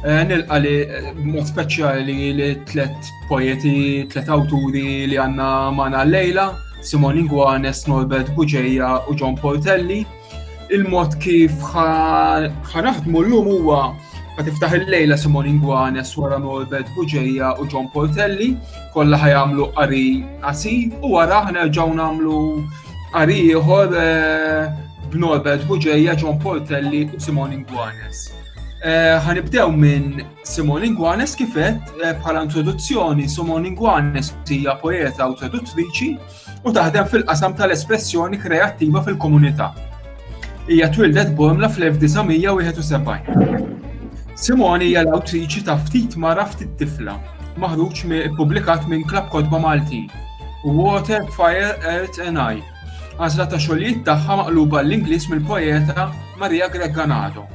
Eh, nilqa li b'mod speċjali li tlet poeti, tlet awturi li għanna mana l-lejla, Simon Inguanes, Norbert Buġeja u John Portelli. Il-mod kif ħanaħdmu l-lum huwa Ma tiftaħ il-lejla Simon Ingwanes wara Norbert Buġeja u John Portelli, kollha ħajamlu qari qasi u wara ħna ġew nagħmlu qari ieħor eh, b'Norbert Buġeja, John Portelli u Simon Ingwanes. Eh, ħanibdew minn Simon Ingwanes kifet eh, bħala introduzzjoni Simon Ingwanes hija poeta u traduttriċi u taħdem fil-qasam tal-espressjoni kreattiva fil-komunità. Hija twildet Bormla fl-1971. Simon hija l-awtriċi ta' ftit mara ftit tifla, maħruġ publikat minn Klab Kodba Malti, Water, Fire, Earth and Eye, Għażla ta' xogħlijiet tagħha maqluba għall-Ingliż mill-poeta Maria Greg Ganado.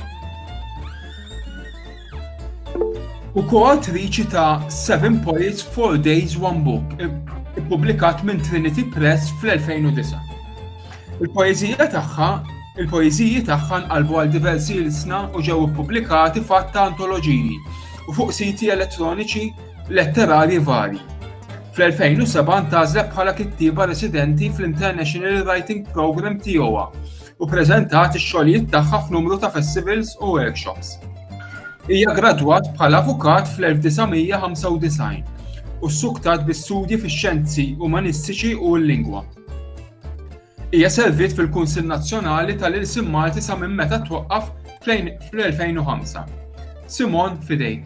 U koattriċi ta' Seven Poets, Four Days, One Book, ippubblikat minn Trinity Press fl-2009. Il-poezija tagħha il-poeziji tagħha nqalbu għal diversi ilsna u ġew ippubblikati fatt ta' antoloġiji u fuq siti elettroniċi letterarji varji. Fl-2007 ntgħażlet bħala kittieba residenti fl-International Writing Programme TOA u ppreżentat ix-xogħlijiet tagħha f'numru ta' festivals u workshops. Hija ggradwat bħala avukat fl-1995 u ssuktat bi studji fix-xjenzi umanistiċi u l-lingwa. Hija serviet fil-Kunsill Nazzjonali tal-Ilsim Malti sa minn meta twaqqaf fl-2005. Simon Fidejk.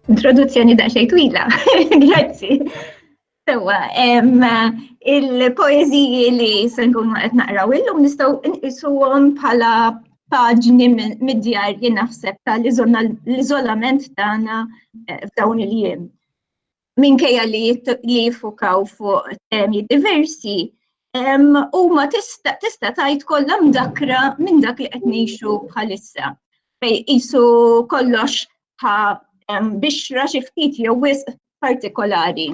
Introduzzjoni daqsxejn twila, grazzi. Sewa, il-poeziji li se nkunu qed naqraw illum nistgħu nqisuhom bħala paġni mid-djar jien naħseb tal-iżolament tagħna eh, f'dawn il-jiem. minkejja li jiffukaw fuq temi diversi, huma tista' tgħid kollha mdakra minn dak li qed ngħixu bħalissa. Fej qisu kollox bħa bixra xi ftit jew wisq partikolari.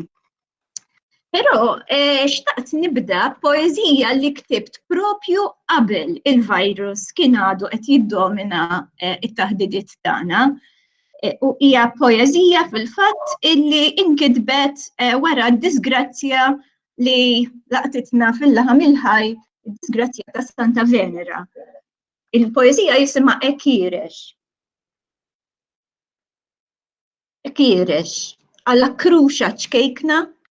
Però eh, xtaqt nibda poezija li ktibt propju qabel il-virus kien għadu qed jiddomina eh, it-taħdidiet tagħna. u hija poeżija fil-fatt illi inkitbet eh, wara d-disgrazzja li laqtitna fil-laħam il-ħaj, disgrazzja ta' Santa Venera. Il-poeżija jisima Ekirex. Ekirex, għalla kruxa ċkejkna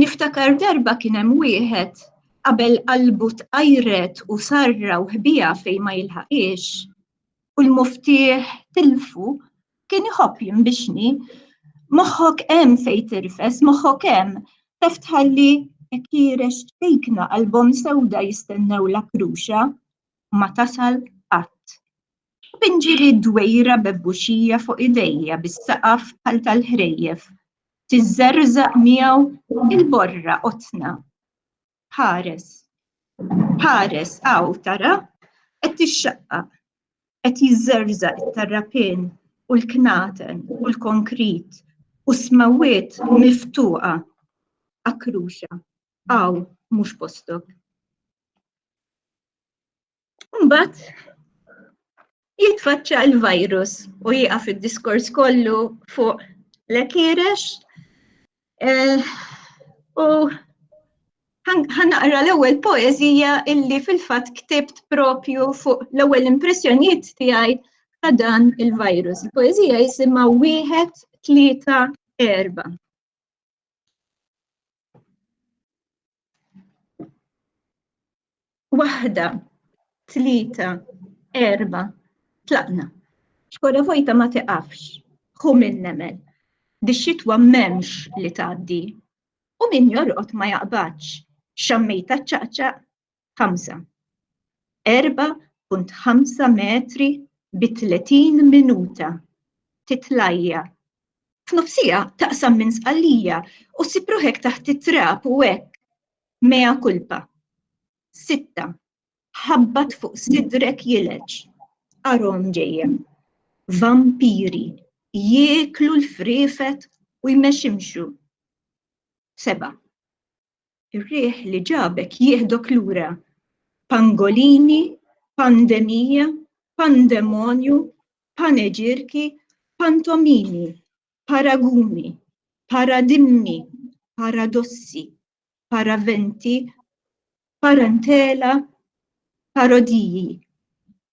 Niftakar darba kien hemm wieħed qabel qalbu tqajret u sarra u ħbiha fejn ma jilħaqhiex u l-muftieħ tilfu, kien iħobb jinbixni, Moħħok hemm fejn tirfes, moħħok hemm, taf tħalli għekirex ċkejkna qalbhom sewda jistennewlek ruxa u ma tasal qatt. Pinġi li d-dwejra bebbuxija fuq idejja bis-saqaf bħal tal-ħrejjef. Tiżżerżaq miegħu il-borra qotna. Ħares. Ħares hawn tara qed tixxaqqaq. Qed jiżżerżaq it-tarrapin u l-knaten u l-konkrit u smewwiet miftuqa. Akruxa, hawn mhux postok. Mbagħad jitfaċċa l-virus u jieqaf id-diskors kollu fuq l-ekirex eh, u ħanaqra l-ewwel poeżija illi fil-fatt ktibt propju fuq l-ewwel impressjonijiet tiegħi ta' dan il-virus. Il-poeżija jisimha wieħed tlieta erba'. Waħda, tlita, erba, tlaqna. Xkora vojta ma tiqafx, hu minn nemel. Dix-xitwa memx li tgħaddi. U min jorqod ma jaqbadx, xammejta ċaqċaq, ħamsa. 4.5 metri bi 30 minuta titlajja. F'nofsija taqsam minn sqallija u sipruħek taħt it-trab u hekk mea kulpa. Sitta. Ħabbat fuq sidrek jileġ. Arom ġejjem. Vampiri jieklu l-frifet u jmeximxu. Seba. Ir-riħ li ġabek jieħdok lura. Pangolini, pandemija, pandemonju, paneġirki, pantomimi, paraguni, paradimmi, paradossi, paraventi, parantela, parodiji,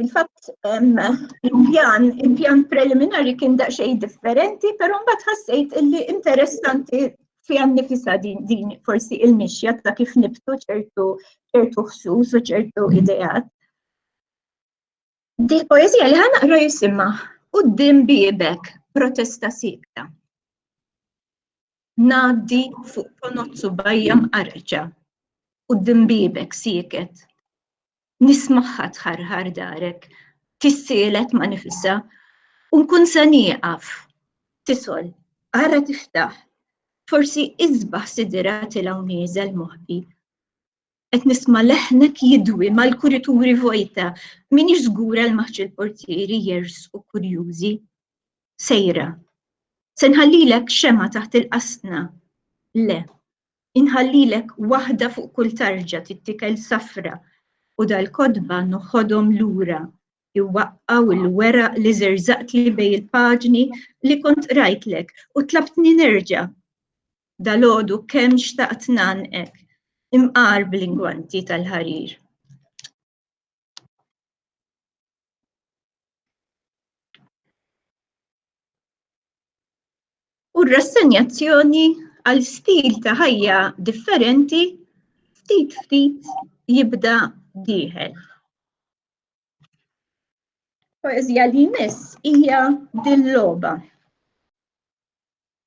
Il-fatt il-pjan, il-pjan preliminari kien daqsxejn differenti, però mbagħad ħassejt illi interessanti fiha nifisa din din forsi il-mixja ta' kif nibtu ċertu ċertu ħsus u ċertu ideat. Di poezija li ħanaqra jisimha Qudiem biebek protesta sikta. Ngħaddi fuq ponozzu bajja mqarreċa. Qudiem biebek sieket nismagħha tħarħar darek, tissielet ma' nifisha u nkun se nieqaf. Tisol, ara tiftaħ, forsi isbaħ sidirha tilgħu nieżel moħbi. Qed nisma' leħnek jidwi mal-kurituri vojta, minix żgura l-maħġ il-portieri jersqu kurjużi. Sejra. Se nħallilek xemgħa taħt il-qasna. Le, Inħallilek waħda fuq kull tarġa tittikel safra u dal-kotba noħodhom lura jwaqqgħu l-weraq li żerżaqtli bejn il-paġni li kont qrajtlek u tlabtni nerġa'. Dalgħodu kemm xtaqt ngħannqek imqar bl-ingwanti tal-ħarir. u r-rassenjazzjoni għal stil ta' ħajja differenti ftit ftit jibda dieħel. Poezija li jmiss hija din logħba.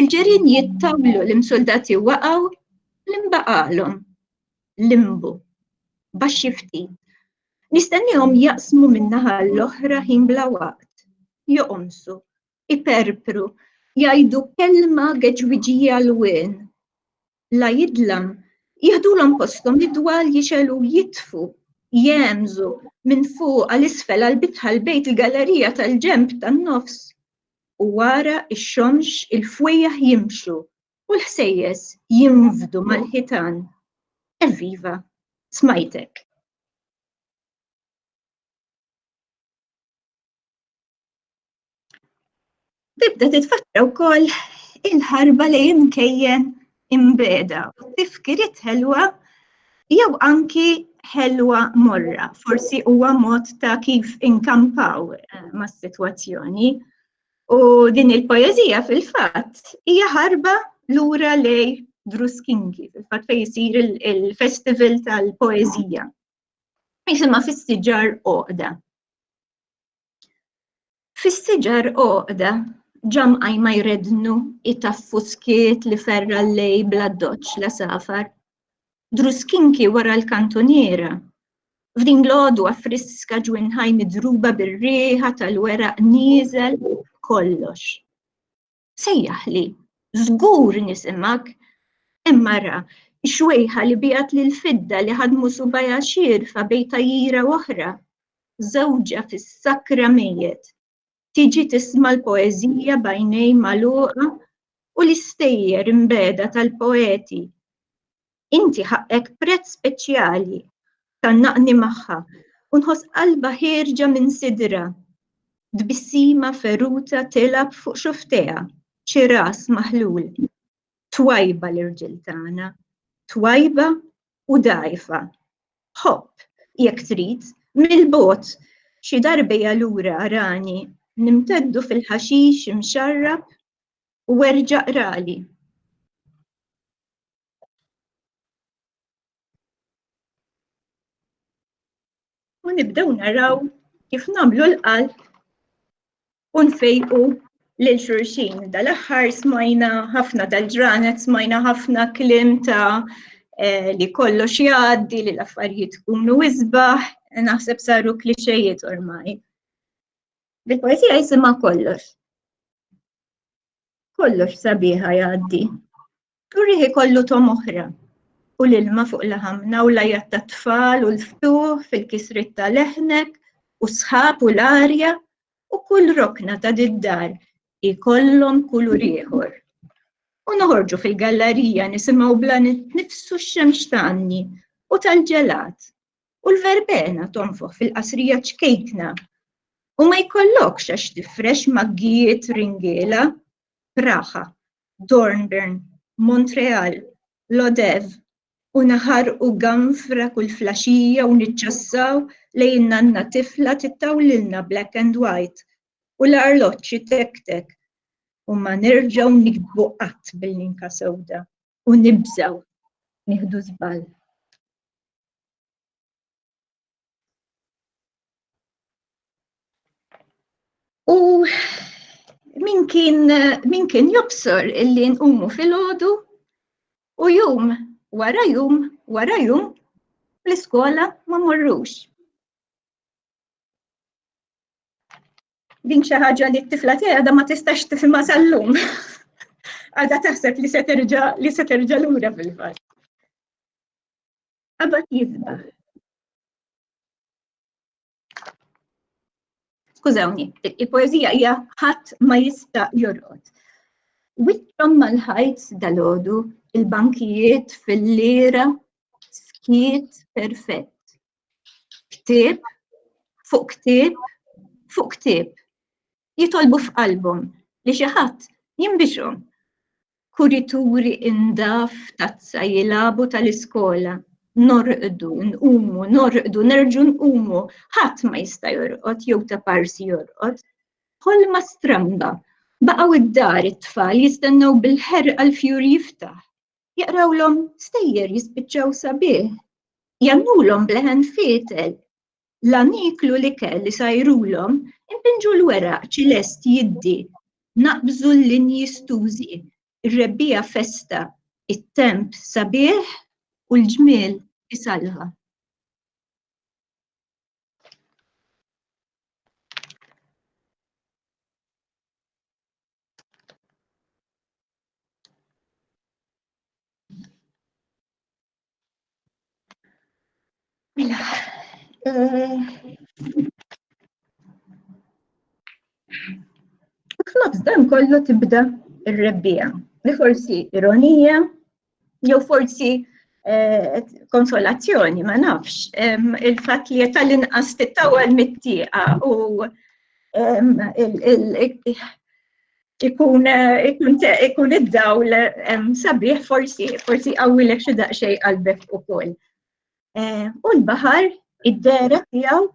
Il-ġerien jittawlu l-imsuldati waqgħu li nbaqgħalhom limbu baxx xi ftit. Nistennihom jaqsmu min-naħa l-oħra ħin bla waqt, joqomsu, iperpru, jgħidu kelma geġwiġija l-wien. la jidlam, jiħdulhom posthom id-dwal jixegħlu u jitfu, jegħemżu, minn fuq għal isfel għall-bitħa l-bejt il-gallerija tal-ġenb tan-nofs. U wara x-xomx il-fwejjaħ jimxu u l-ħsejjes jinfdu mal-ħitan. Evviva! Smajtek. Tibda titfakkra wkoll il-ħarba li imkejjen imbeda u tifkiriet ħelwa jew anki ħelwa morra, forsi huwa mod ta' kif inkampaw eh, mas-sitwazzjoni. U din il-poezija fil-fatt hija ħarba lura lej Druskinki, fil-fatt fejn isir il-festival tal-poezija. Jisimha fis-siġar oqda. Fis-siġar għoqda ġa mqajma jreddnu jtaffu skiet li ferra l-lejl bl-addoċċ l-għasafar. Druskinki wara l-kantuniera. F'din l-għodwa friska ġwinħaj midruba bir-riħa tal-weraq nieżel kollox. Sejjaħli, żgur nisimgħek. Hemm mara, xwejħa li biegħet lill-fidda li ħadmu subajha xierfa bejn tajjira u oħra. Żewġha fis-sakra mejjet. Tiġi tisma' l-poeżija b'għajnejn magħluqa u l-istejjer imbegħda tal-poeti. Inti ħaqqek prezz speċjali, tgħannaqni magħha, u nħoss qalba ħierġa minn sidrha. Tbissima feruta tilgħab fuq xufftejha, xi ras maħlul. Twajba l-irġiel tagħna, twajba u dgħajfa. Ħobb, jekk trid, mill-bogħod, xi darbejja lura arani nimteddu fil-ħaxix imxarrab u erġa' qrali. U nibdew naraw kif namlu l-qalb u nfejqu lil xurxin. Dal-aħħar smajna ħafna dal-ġranet, smajna ħafna klim ta' eh, li kollox jgħaddi, li l-affarijiet kunu isbaħ, naħseb saru klixejiet ormai. Bil-poezija jisima kollox. Kollox sabiħa jgħaddi. Turih ikollu tom oħra u l-ilma fuq laħamna u lajat ta' tfal u l-ftuħ fil-kisrit ta' leħnek u sħab u l-arja u kull rokna ta' diddar ikollhom kulur ieħor. U noħorġu fil-gallarija nisimgħu bla nifsu x-xemx tanni u tal-ġelat u l-verbena tonfoħ fil-qasrija ċkejkna u ma jkollokx għax tifrex maggijiet ringiela praħa Dornbirn, Montreal, Lodève u naħarqu ganfra kull flaxija u niċċassaw lejn nanna tifla tittawlilna black and white u l-arloġġ itektek u ma nerġgħu nikbu qatt bil-linka sewda u nibżgħu nieħdu żball. U min kien, min kien jobsor illi nqumu fil-ħodu u jum wara jum wara jum l-iskola ma morrux. Din xi ħaġa li t-tifla tiegħi għadha ma tistax tifhimha sal-lum. Għadha taħseb li se terġa' li se terġa' lura fil-fatt. Qabad jizbaħ. Skużawni, il-poezija hija ħadd ma jista' jorqod. Witrom mal-ħajt dal-ħodu, il-bankijiet fil-lira, skiet perfett. Ktib, fuq ktib, fuq ktib. jitolbu f'qalbhom li xi ħadd jinbixhom. Kurituri indaf tazza jilagħbu tal-iskola, norqdu, nqumu, norqdu, nerġgħu nqumu, ħadd ma jista' jorqod jew ta' parsi jorqod. Ħolma stramba. Baqgħu d-dar it-tfal jistennew bil-ħerqa l-fjur jiftaħ. Jaqrawlhom stejjer jispiċċaw sabiħ. Jgħannulhom b'leħen fietel. Lan jieklu l-ikel li sajrulhom, impinġu l-weraq ċilest jiddi, naqbżu l-linji stużi, ir-rebbiegħa festa, it-temp sabiħ u l-ġmiel isallha. F'nofs dan kollu tibda ir-rebbija, li forsi ironija, jew forsi eh, konsolazzjoni, ma nafx, il-fat li tal-inqas tittawal mit-tieqa u ikun ikun id-dawl sabiħ forsi forsi qawwilek xi daqsxejn qalbek ukoll. Eh, u l-baħar id-dera tiegħu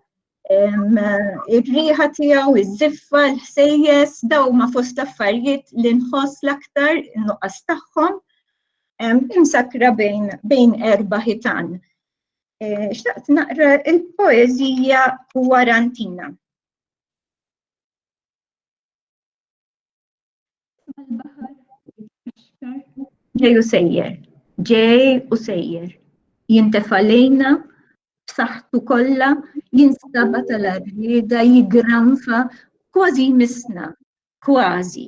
ir-riħa tiegħu, iż-żiffa, l-ħsejjes, daw ma fost affarijiet li nħoss l-aktar nuqqas tagħhom imsakra bejn bejn erba' ħitan. Eh, xtaqt naqra il-poeżija Warantina. ġej u sejjer, ġej u sejjer, jintefa lejna b'saħħtu kollha jinstaba tal-arrieda jigranfa kważi misna, kważi.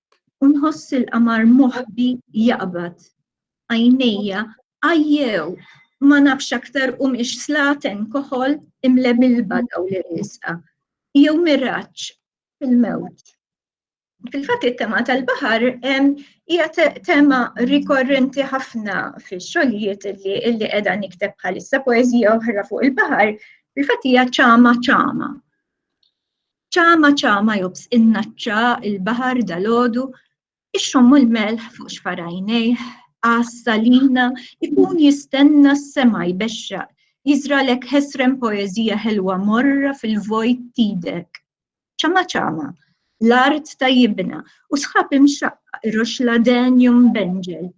u nħoss il-qamar moħbi jaqbad. Għajnejja għajjew ma nafx aktar u miex slaten koħol imle milba daw li risqa. Jew miraċ fil-mewt. Fil-fatt it-tema tal-baħar hija tema rikorrenti ħafna fix-xogħlijiet li qiegħda nikteb bħalissa poeżija oħra fuq il-baħar, fil-fatt hija ċama ċama. Ċama ċama jobs in-naċċa il-baħar dalgħodu, ixxommu l-melħ fuq xfarajnejh, għas salina ikun jistenna s-sema jbexxaq, jiżralek ħesrem poeżija ħelwa morra fil-vojt t'idek. Ċama ċama, l-art tajjibna u sħab imxaqqa iroxxla denju mbenġel,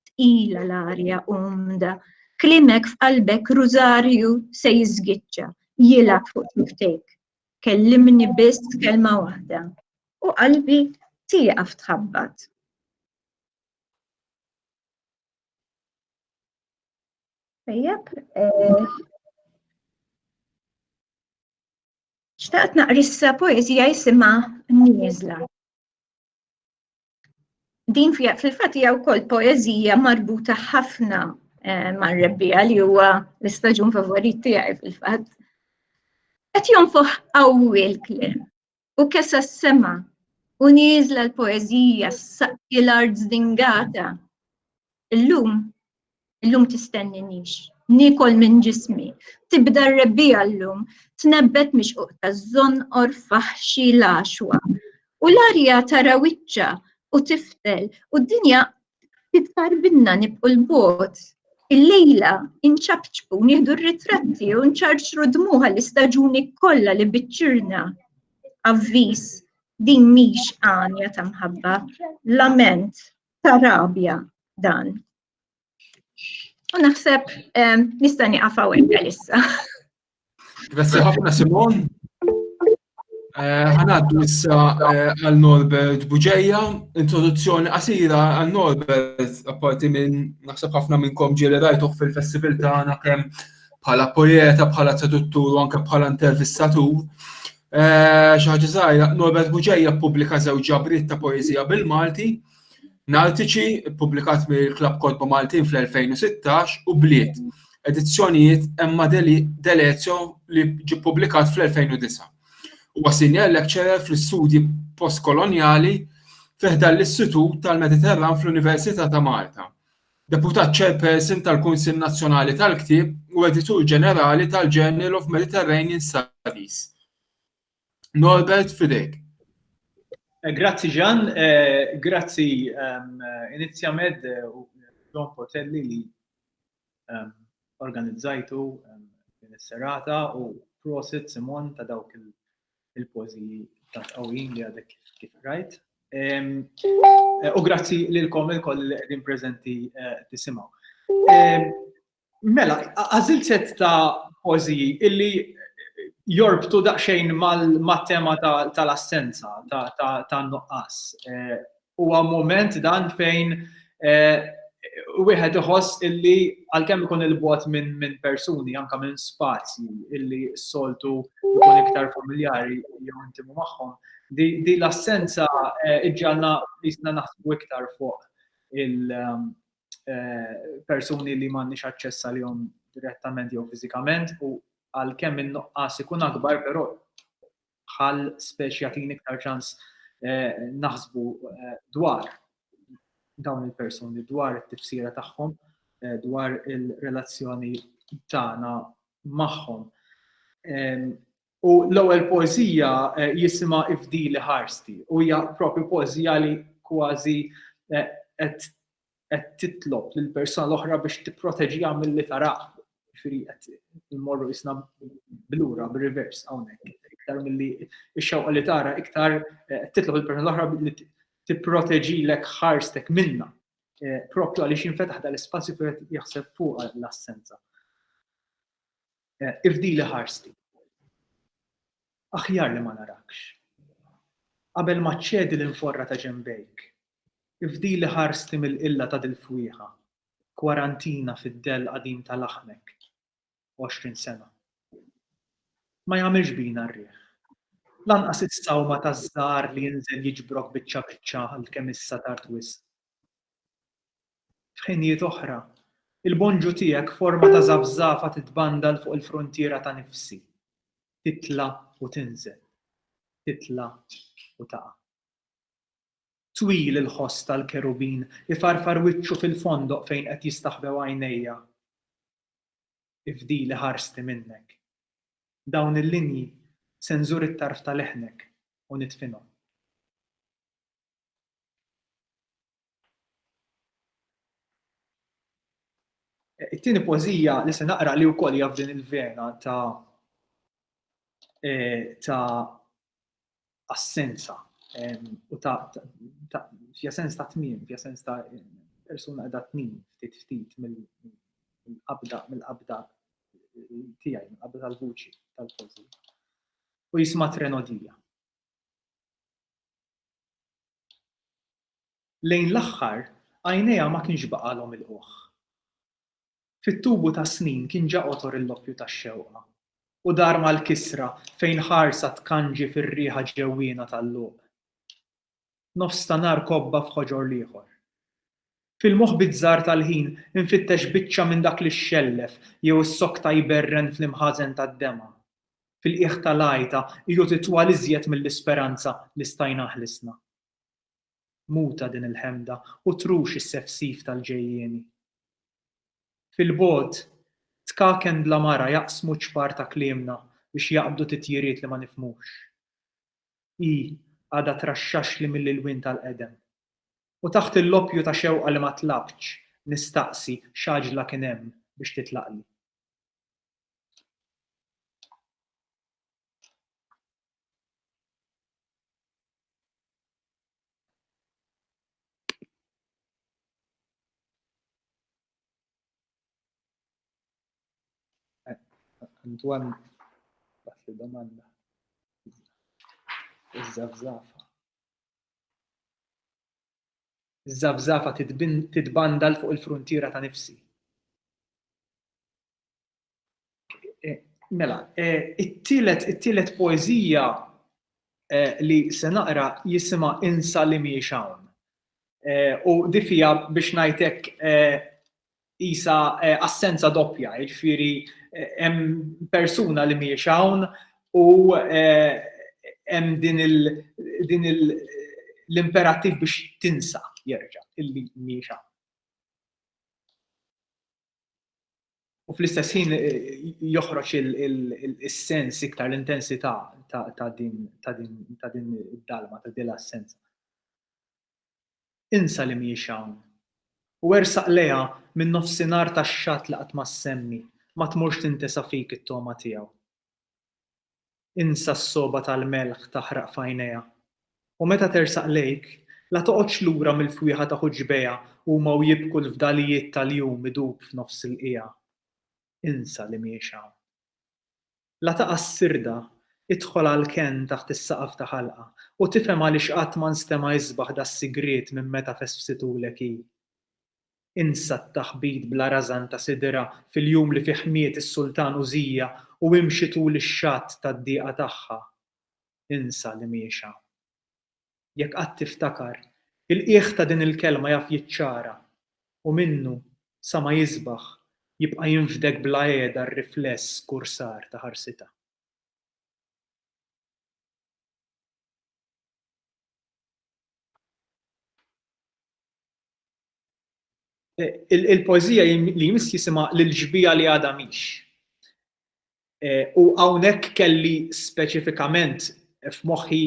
tqila l-arja umda, klimek f'qalbek rużarju se jiżgiċċa, jilgħab fuq xiftejk. Kellimni biss kelma waħda u qalbi tieqaf tħabbat. Tajjeb, eh, xtaqt naqrissa poezija jisima Nizla. Din fil-fatt hija wkoll poeżija marbuta ħafna eh, mar-rebbija li huwa l-istaġun favorit tiegħi fil-fatt. Qed jonfoħ qawwi l-kliem u kesa s-sema u nieżla l-poeżija s-saqki l-art zdingata Illum, illum tistenninix, nikol minn ġismi, tibda r-rebbija llum, tnebbet mixquq ta' żonqor faħxi l-għaxwa. U l-arja tara wiċċa u tiftel u d-dinja titfar binna nibqu l-bot. Il-lejla inċapċpu nieħdu r-ritratti u nċarċru dmuħa l-istaġuni kollha li biċċirna. Avviż, din mhix għanja ta' mħabba, lament ta' rabja dan. U naħseb nista' nieqaf hawnhekk għalissa. Grazzi ħafna Simon. Eh, ħanaddu issa eh, għal Norbert Buġeja, introduzzjoni qasira għal Norbert, apparti minn naħseb ħafna minnkom ġieli rajtuh fil-festival tagħna kemm bħala poeta, bħala traduttur u anke bħala intervistatur. Eh, xi ħaġa żgħira, Norbert Buġeja ppubblika żewġ ġabriet ta' poeżija bil-Malti, Naltiċi, ppubblikat mill-Klabb Kodba Maltin fl-2016, u Bliet, edizzjonijiet Emma Delezio li ġi ppubblikat fl-2009. Huwa senior lecturer fl-istudji postkolonjali fiħda l-Istitut tal-Mediterran fl-Università ta' Malta. Deputat Chairperson tal-Kunsill Nazzjonali tal-Ktieb u Editur Ġenerali tal-Journal of Mediterranean Studies. Norbert, f'idejk. Grazzi Ġan, grazzi Inizjamed u John Portelli li organizzajtu din is-serata u prosit Simon ta' dawk il-pożiji ta' qawwin li għadek kif rajt. U grazzi lilkom il-koll li qegħdin preżenti eh, tisimgħu. Mela, għażil set ta' pożiji illi jorbtu daqsxejn mat-tema tal-assenza, ta' nuqqas. Eh, Huwa mument dan fejn wieħed iħoss illi għalkemm ikun il-bogħod minn persuni, anke minn spazji illi s-soltu jkun iktar familjari jew intimu magħhom, din l-assenza ġġagħalna qisna naħsbu iktar fuq il-persuni li m'għandniex aċċess għalihom direttament jew fiżikament u għalkemm in-nuqqas ikun akbar, però bħal speċi jagħtini iktar ċans naħsbu dwar dawn il-persuni, dwar it-tifsira tagħhom, dwar il-relazzjoni tagħna magħhom. U l-ewwel poeżija jisimha Ifdili ħarsti u hija propju poeżija li kważi qed qed titlob lil persuna l-oħra biex tipproteġiha milli tarah. Ġifieri qed immorru isna blura bir-reverse hawnhekk. Iktar milli x-xewqa li tara iktar eh, titlob il-persuna l-oħra li tipproteġilek ħarstek minna. Eh, propju għaliex jinfetaħ dal-ispazju kif jaħseb fuq l-assenza. Eh, ifdi li ħarsti. Aħjar li ma narakx. Qabel ma ċedi l-inforra ta' ġembejk, Ifdili ħarsti mill-qilla ta' dil-fwieħa, kwarantina fid-dell qadim ta' laħmek, għoxrin sena. Ma jagħmilx bina r-riħ. Lanqas is-sawma taż-żahar li jinżel jiġbrok biċċa biċċa għalkemm issa tard wisq. F'ħinijiet oħra, il-bonġu tiegħek f'forma ta' żafżafa titbandal fuq il-fruntiera ta' nifsi, titla' u tinżel, titla' u taqa'. Twil il-ħoss tal-kerubin, ifarfar wiċċu fil-fondoq fejn qed jistaħbew għajnejja. Ifdili ħarsti minnek. Dawn il-linji se nżur it-tarf ta' leħnek u nidfinhom. It-tieni pożija li se naqra li wkoll hija f'din il-vena ta' e, ta' assenza u ta' fija sens ta' tmiem, fija sens ta' persuna għedha tnin ftit ftit mill-qabda mill-qabda tiegħi, mill-qabda tal-vuċi tal-pożi. U jisma' trenodija. Lejn l-aħħar għajnejha ma kienx baqalhom il-qoħ. Fit-tubu tas-snin kien ġa qotor il-loppju tax-xewqa, u dar mal-kisra fejn ħarsa tkanġi fir-riħa ġewwiena tal-luq. Nofs ta' nhar kobba f'ħoġor l-ieħor. Fil-moħħ bizzarr tal-ħin infittex biċċa minn dak li xxellef jew issokta jberren fl-imħażen tad-dema'. Fil-qiegħ tal-għajta qiegħu titwal iżjed mill-isperanza li stajna ħlisna. Muta din il-ħemda u trux is-sefsif tal-ġejjieni. Fil-bogħod, tkaken bla mara jaqsmu ċpar ta' kliemna biex jaqbdu titjiriet li ma nifhmux. Hi għadha traxxaxli mill-ilwien tal-qedem. U taħt il-loppju ta' xewqa li ma tlabtx, nistaqsi x'għaġla kien hemm biex titlaqli. Antoine, bas li domanda. Iż-żafżafa. Iż-żafżafa titbandal fuq il-fruntiera ta' nifsi. Mela, it-tielet it-tielet poeżija li se naqra jisimha Insa li mhijiex hawn. U di fija biex ngħidlek isa assenza doppja, jiġifieri hemm persuna li mhijiex hawn u hemm din il l-imperattiv biex tinsa jerġa' illi mhijiex hawn. u fl-istess ħin joħroġ il-sens iktar l-intensità ta' din id-dalma, ta' din l-assenza. Insa li mhijiex hawn. U ersaq lejha min-nofsinhar tax-xatt li qatt ma ssemmi, ma tmurx tintesa fik it-togħma tiegħu. Insa s-sogħba tal-melħ taħraq f'għajnejha. U meta tersaq lejk, la toqgħodx lura mill-fwieħa ta' ħuġbejha huma u jibku l-fdalijiet tal-jum idub f'nofs il-qiegħa. Insa li mhiex hawn. La taqa' s-sirda, idħol għall-kenn taħt is-saqaf ta' ħalqa u tifhem għaliex qatt ma nstema' isbaħ das-sigriet minn meta fesfsitulek hi. Insa t-taħbit bla rażan ta' sidra fil-jum li fih miet is-Sultan Użija u imxi tul ix-xatt tad-dieqa tagħha. Insa l-imhiexha. Jekk qatt tiftakar, il-qiegħ ta' din il-kelma jaf jiċċara, u minnu, sa ma jisbaħ, jibqa' jinfdek bla qiegħda r-rifless skursar ta' ħarsitha. Il-poeżija li jmiss jisimha L-ġbija li għadha mhix. U hawnhekk kelli speċifikament f'moħħi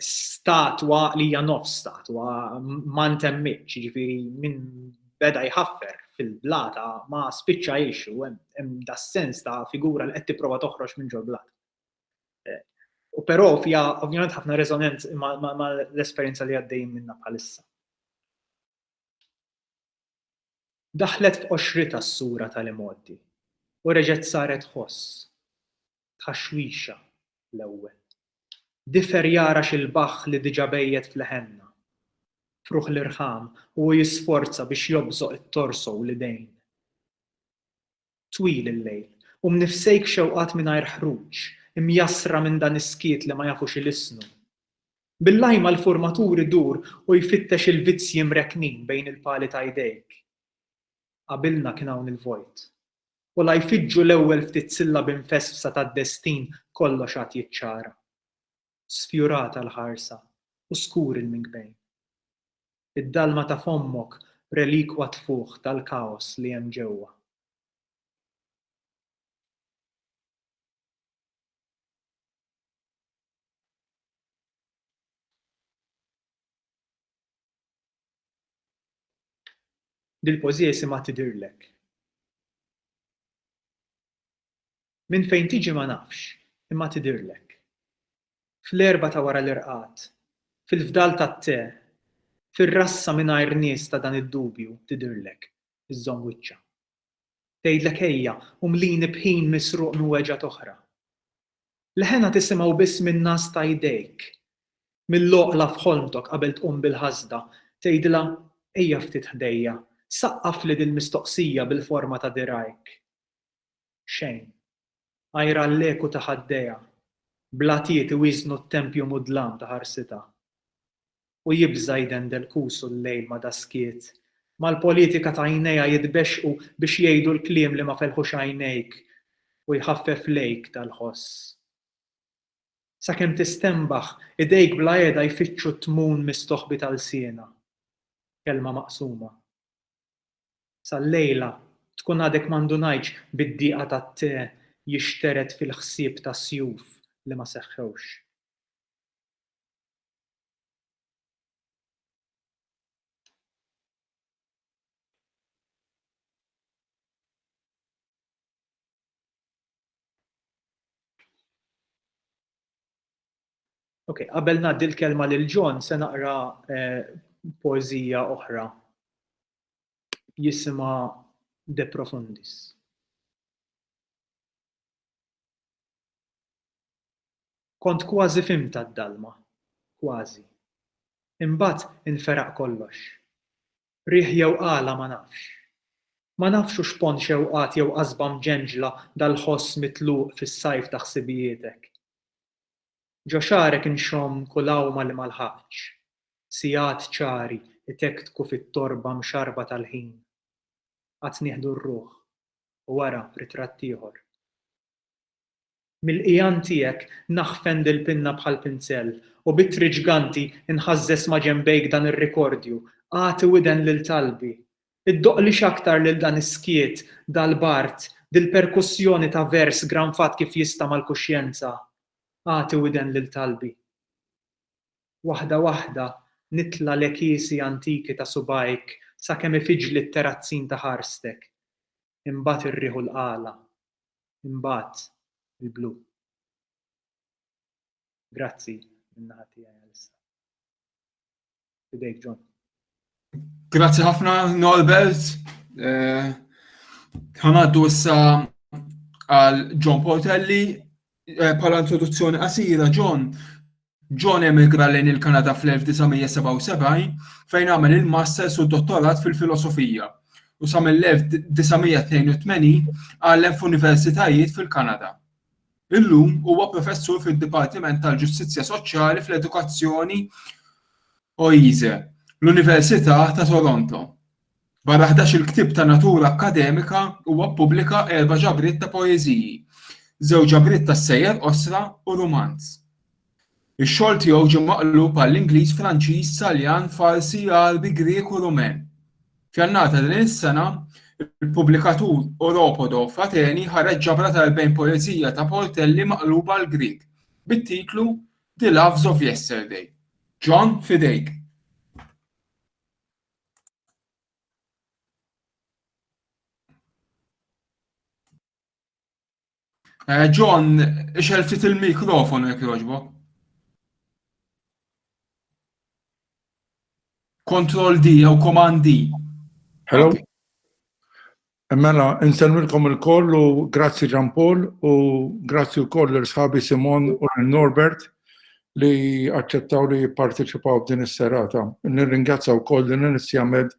statwa li hija nofs statwa ma ntemmitx, jiġifieri minn beda jħaffer fil-blata ma spiċċa jgħix u hemm das-sens ta' figura li qed tipprova toħroġ minn ġol-blata. U però fija ovvjament ħafna resonant ma' l-esperjenza li għaddejjin minna bħalissa. Daħlet f'qoxritha s-sura tal-imgħoddi u reġgħet saret ħoss, tħaxwixa l-ewwel. Difer jara xi lbaħħ li diġà bejjet f'leħenna, fruħ l-irħam u hu jisforza biex jobżoq it-torso u l-idejn. Twil il-lejl, u mnifsejk xewqat mingħajr ħruġ, imjassra minn dan is-skiet li ma jafu xi lissnu. Bil-lajma l-furmatur idur u jfittex il-vizzji mrekknin bejn il-pali ta' jdejk. Qabilna kien hawn il-vojt. U la jfiġġu l-ewwel ftit sillabi mfesfsa tad-destin kollox għad jiċċara. sfjurata l-ħarsa u skur il-minkbejn. Id-dalma ta' fommok relikwa tfuħ tal-kaos li hemm ġewwa. Dil-pożija jisimha Tidhirlek. Minn fejn tiġi ma nafx, imma tidhirlek. Fl-erbgħa ta' wara l-irqad, fil-fdal tat-te, fir-rassa mingħajr nies ta' dan id-dubju tidhirlek, iżżomm wiċċha. Tgħidlek ejja u mlini b'ħin misruq minn weġgħat oħra. Leħenha tisimgħu biss min-ngħas ta' jdejk. Mill-għoqla f'ħolmtok qabel tqum bil-ħasda, tgħidilha ejja ftit ħdejja, saqqafli dil-mistoqsija bil-forma ta' dirgħajk. xejn. Għajr għall-eku ta' ħaddejha, blatiet iwieżnu t-tempju mudlam ta' ħarsitha. U jibża' jdendel kusu l-lejl ma' daskiet, mal-politika ta' għajnejha jitbexxqu biex jgħidu l-kliem li ma felħux għajnejk u jħaffef lejk dal-ħoss. Sakemm tistenbaħ, idejk bla qiegħda jfittxu t-tmun mis-soħbi ta' lsienha. Kelma maqsuma. Sal-lejla tkun għadek ma ndunajtx bid-diqa tat-te jixtered fil-ħsieb ta' sjuf li ma seħħewx. Ok, qabel ngħaddi l-kelma lil John se naqra poeżija oħra jisimha De Profundis. Kont kważi fimta d-dalma, kważi. Imbagħad inferaq kollox. Riħ jew għala ma nafx. Ma nafx hux pon xewqat jew qasba mġenġla dal-ħoss mitluq fis-sajf ta' ħsibijietek. Ġo xagħrek inxomm kull għawma li ma lħaqtx. Sigħat ċari jtektku fit-torba mxarrba tal-ħin. Għad nieħdu r-ruħ, u wara ritratt ieħor. Mill-qigħan tiegħek naħfen dil-pinna bħall-pinzell, u b'ittri ġganti nħażżeż ma' ġenbejk dan ir-rikordju, Agħti widen lil talbi! Iddoqli x'aktar lil dan is-skiet, dal-bard, dil-perkussjoni ta' vers granfat kif jista' mal-kuxjenza. Agħti widen lil talbi. Waħda waħda nitla' l-għekiesi antiki ta' subgħajk sakemm ifiġli t-terrazzin ta' ħarstek. Imbagħad ir-riħ u l-qala. Imbagħad il-blu. Grazzi, min-naħa tiegħi għalissa. Fidejk John. Grazzi ħafna Norbert. Eh, ħanaddu issa għal John Portelli eh, bħala introduzzjoni qasira John. John emigra lejn il-Kanada fl-1977 fejn għamel il-masters u dottorat fil-filosofija u sa mill-1982 għallem f'universitajiet fil-Kanada. Illum huwa Professur fid-Dipartiment tal-Ġustizzja Soċjali fl-Edukazzjoni Oise, l-Università ta' Toronto. Barra ħdax-il ktieb ta' natura akkademika, huwa ppubblika erba' ġabriet ta' poeżiji, żewġ ġabriet tas-sejjer qosra u rumanz. Ix-xogħol tiegħu ġie maqlub għall-Ingliż, Franċiż, Taljan, Farsi, Għarbi, Grieg u Rumen. F'Jannar ta' din is-sena, il-pubblikatur Oropodo f'Ateni ħareġ ġabra ta' erbgħin poeżija ta' Portelli maqluba għall-Grieg, bit-titlu The Loves of Yesterday. John, f'idejk. Eh, John, ixel ftit il-mikrofonu jek joġbo. Control D jew Command D. Hello. Okay. Mela, insemmilkom il-koll u grazzi Ġan Paul u grazzi u koll l-sħabi Simon u l-Norbert li accettaw li jipparteċipaw din is-serata. Nirringazzaw koll din is-sjamed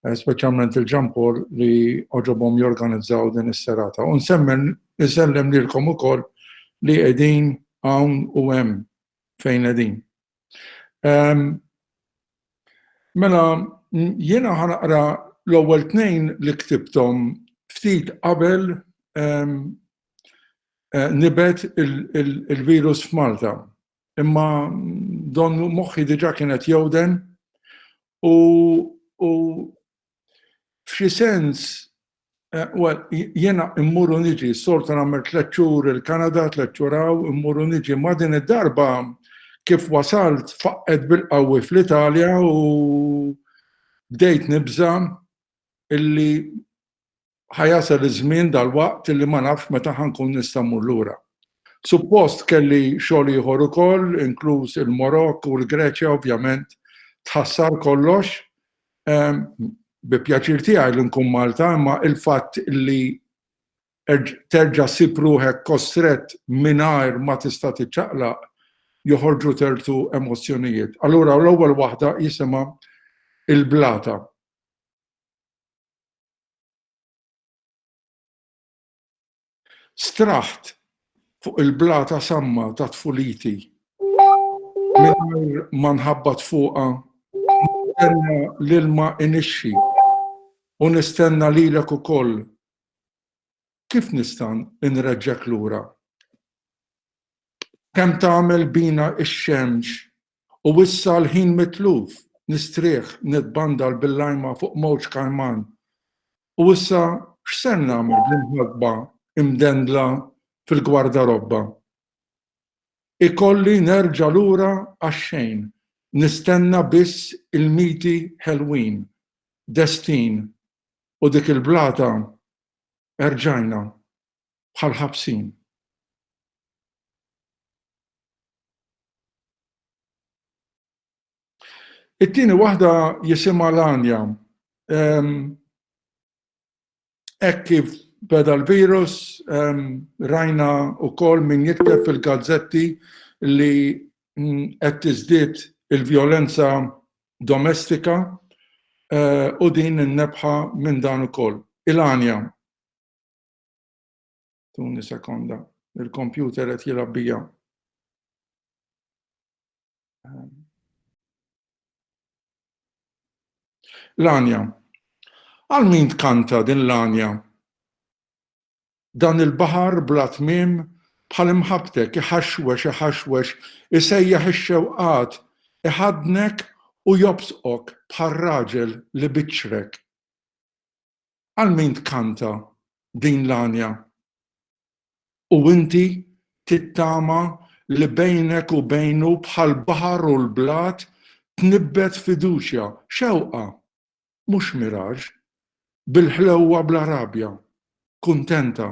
eh, speċjalment il-ġampur li oġobhom jorganizzaw din is-serata. U nsemmen isellem lilkom ukoll li qegħdin hawn u hemm fejn qegħdin. Ehm, mela jiena ħanaqra l-ewwel tnejn li ktibtom ftit qabel ehm, eh, nibet il-virus f'Malta. Imma don moħħi diġa kien qed jowden u u f'xi sens eh, well, jena immuru niġi, sorta nammer tlet xhur il-Kanada, tlet xhur hawn, immuru niġi ma' din id-darba kif wasalt faqqet bil-qawwi fl-Italja u bdejt nibża illi ħa jasal iż-żmien dalwaqt li ma nafx meta ħa nkun nista' mmur lura. Suppost kelli xogħol ieħor ukoll, inkluż il-Morokk u l-Greċja ovvjament tħassar kollox. Ehm, bi pjaċir tiegħi li nkun Malta, imma il-fatt li terġa sib ruħek kostret mingħajr ma tista' tiċċaqlaq joħorġu tertu emozzjonijiet. Allura l-ewwel waħda jisimha il-blata. Straħt fuq il-blata samma ta' tfuliti mingħajr ma nħabbat fuqha nistenna l-ilma inixxi u nistenna lilek ukoll kif nista' nreġġek lura? Kemm tagħmel bina x-xemx U issa l-ħin mitluf, nistrieħ, nitbandal bil-lajma fuq mowġ kajman. U issa x'ser nagħmel bl-imħasba imdendla fil-gwardarobba? Ikolli nerġa' lura għax-xejn, nistenna biss ilmiti ħelwin, destin, u dik il-blata, erġajna, bħal ħabsin. It-tieni waħda jisimha l-anja. Hekk kif beda l-virus, rajna wkoll min jikteb fil-gazzetti li mm, qed tiżdied il-vjolenza domestika eh, u din innebħa minn dan ukoll. Il-għanja. Tuni sekonda. Il-kompjuter qed jilgħab bija. L-anja. Għal min tkanta din l-anja? Dan il-baħar bla tmiem bħal imħabtek iħaxwex iħaxwex isejjaħ ix-xewqat iħadnek u jobsqok bħal raġel li biċċrek. Għal min tkanta din l-għanja? U inti tittama li bejnek u bejnu bħall-baħar u l-blat tnibbet fiduċja, xewqa, mhux miraġ, bil-ħlewwa bla rabja, kuntenta,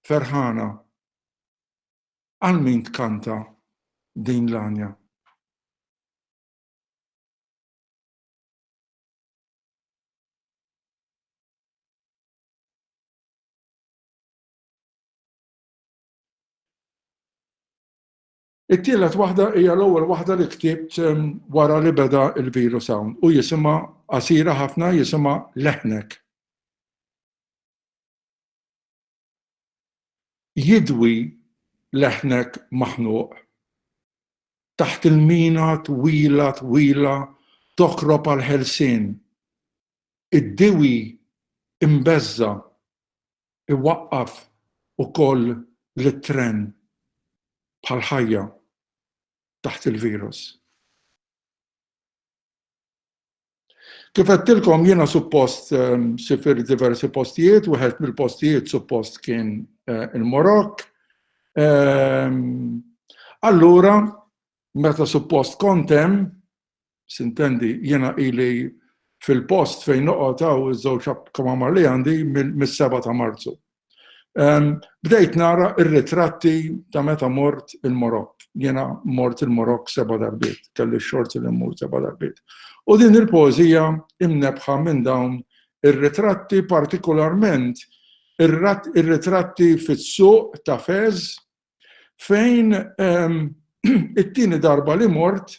ferħana. Għal min tkanta din l-għanja? It-tielet waħda hija l-ewwel waħda li ktibt ehm, wara li beda il-virus hawn u jisimha qasira ħafna jisimha leħnek. jidwi leħnek maħnuq taħt il-mina twila twila tokrob għall-ħelsien. Id-diwi imbeżża' iwaqqaf ukoll lit-tren bħall-ħajja taħt il-virus. Kif għedtilkom jiena suppost ehm, sifir diversi postijiet, wieħed mill-postijiet suppost kien eh, il-Morok. Ehm, allura, meta suppost kontem, sintendi, jiena ili fil-post fejn noqgħod hawn iż-żewġ kamamar li għandi mis-7 ta' Marzu. Bdejt nara r-ritratti ta' meta mort il-Morokk. Jiena mort il-Morokk seba' darbiet, kelli x-xorti li mmur seba' darbiet. U din il-poeżija imnebħa minn dawn ir-ritratti partikolarment ir-ritratti fis-suq ta' Fez fejn it-tieni darba li mort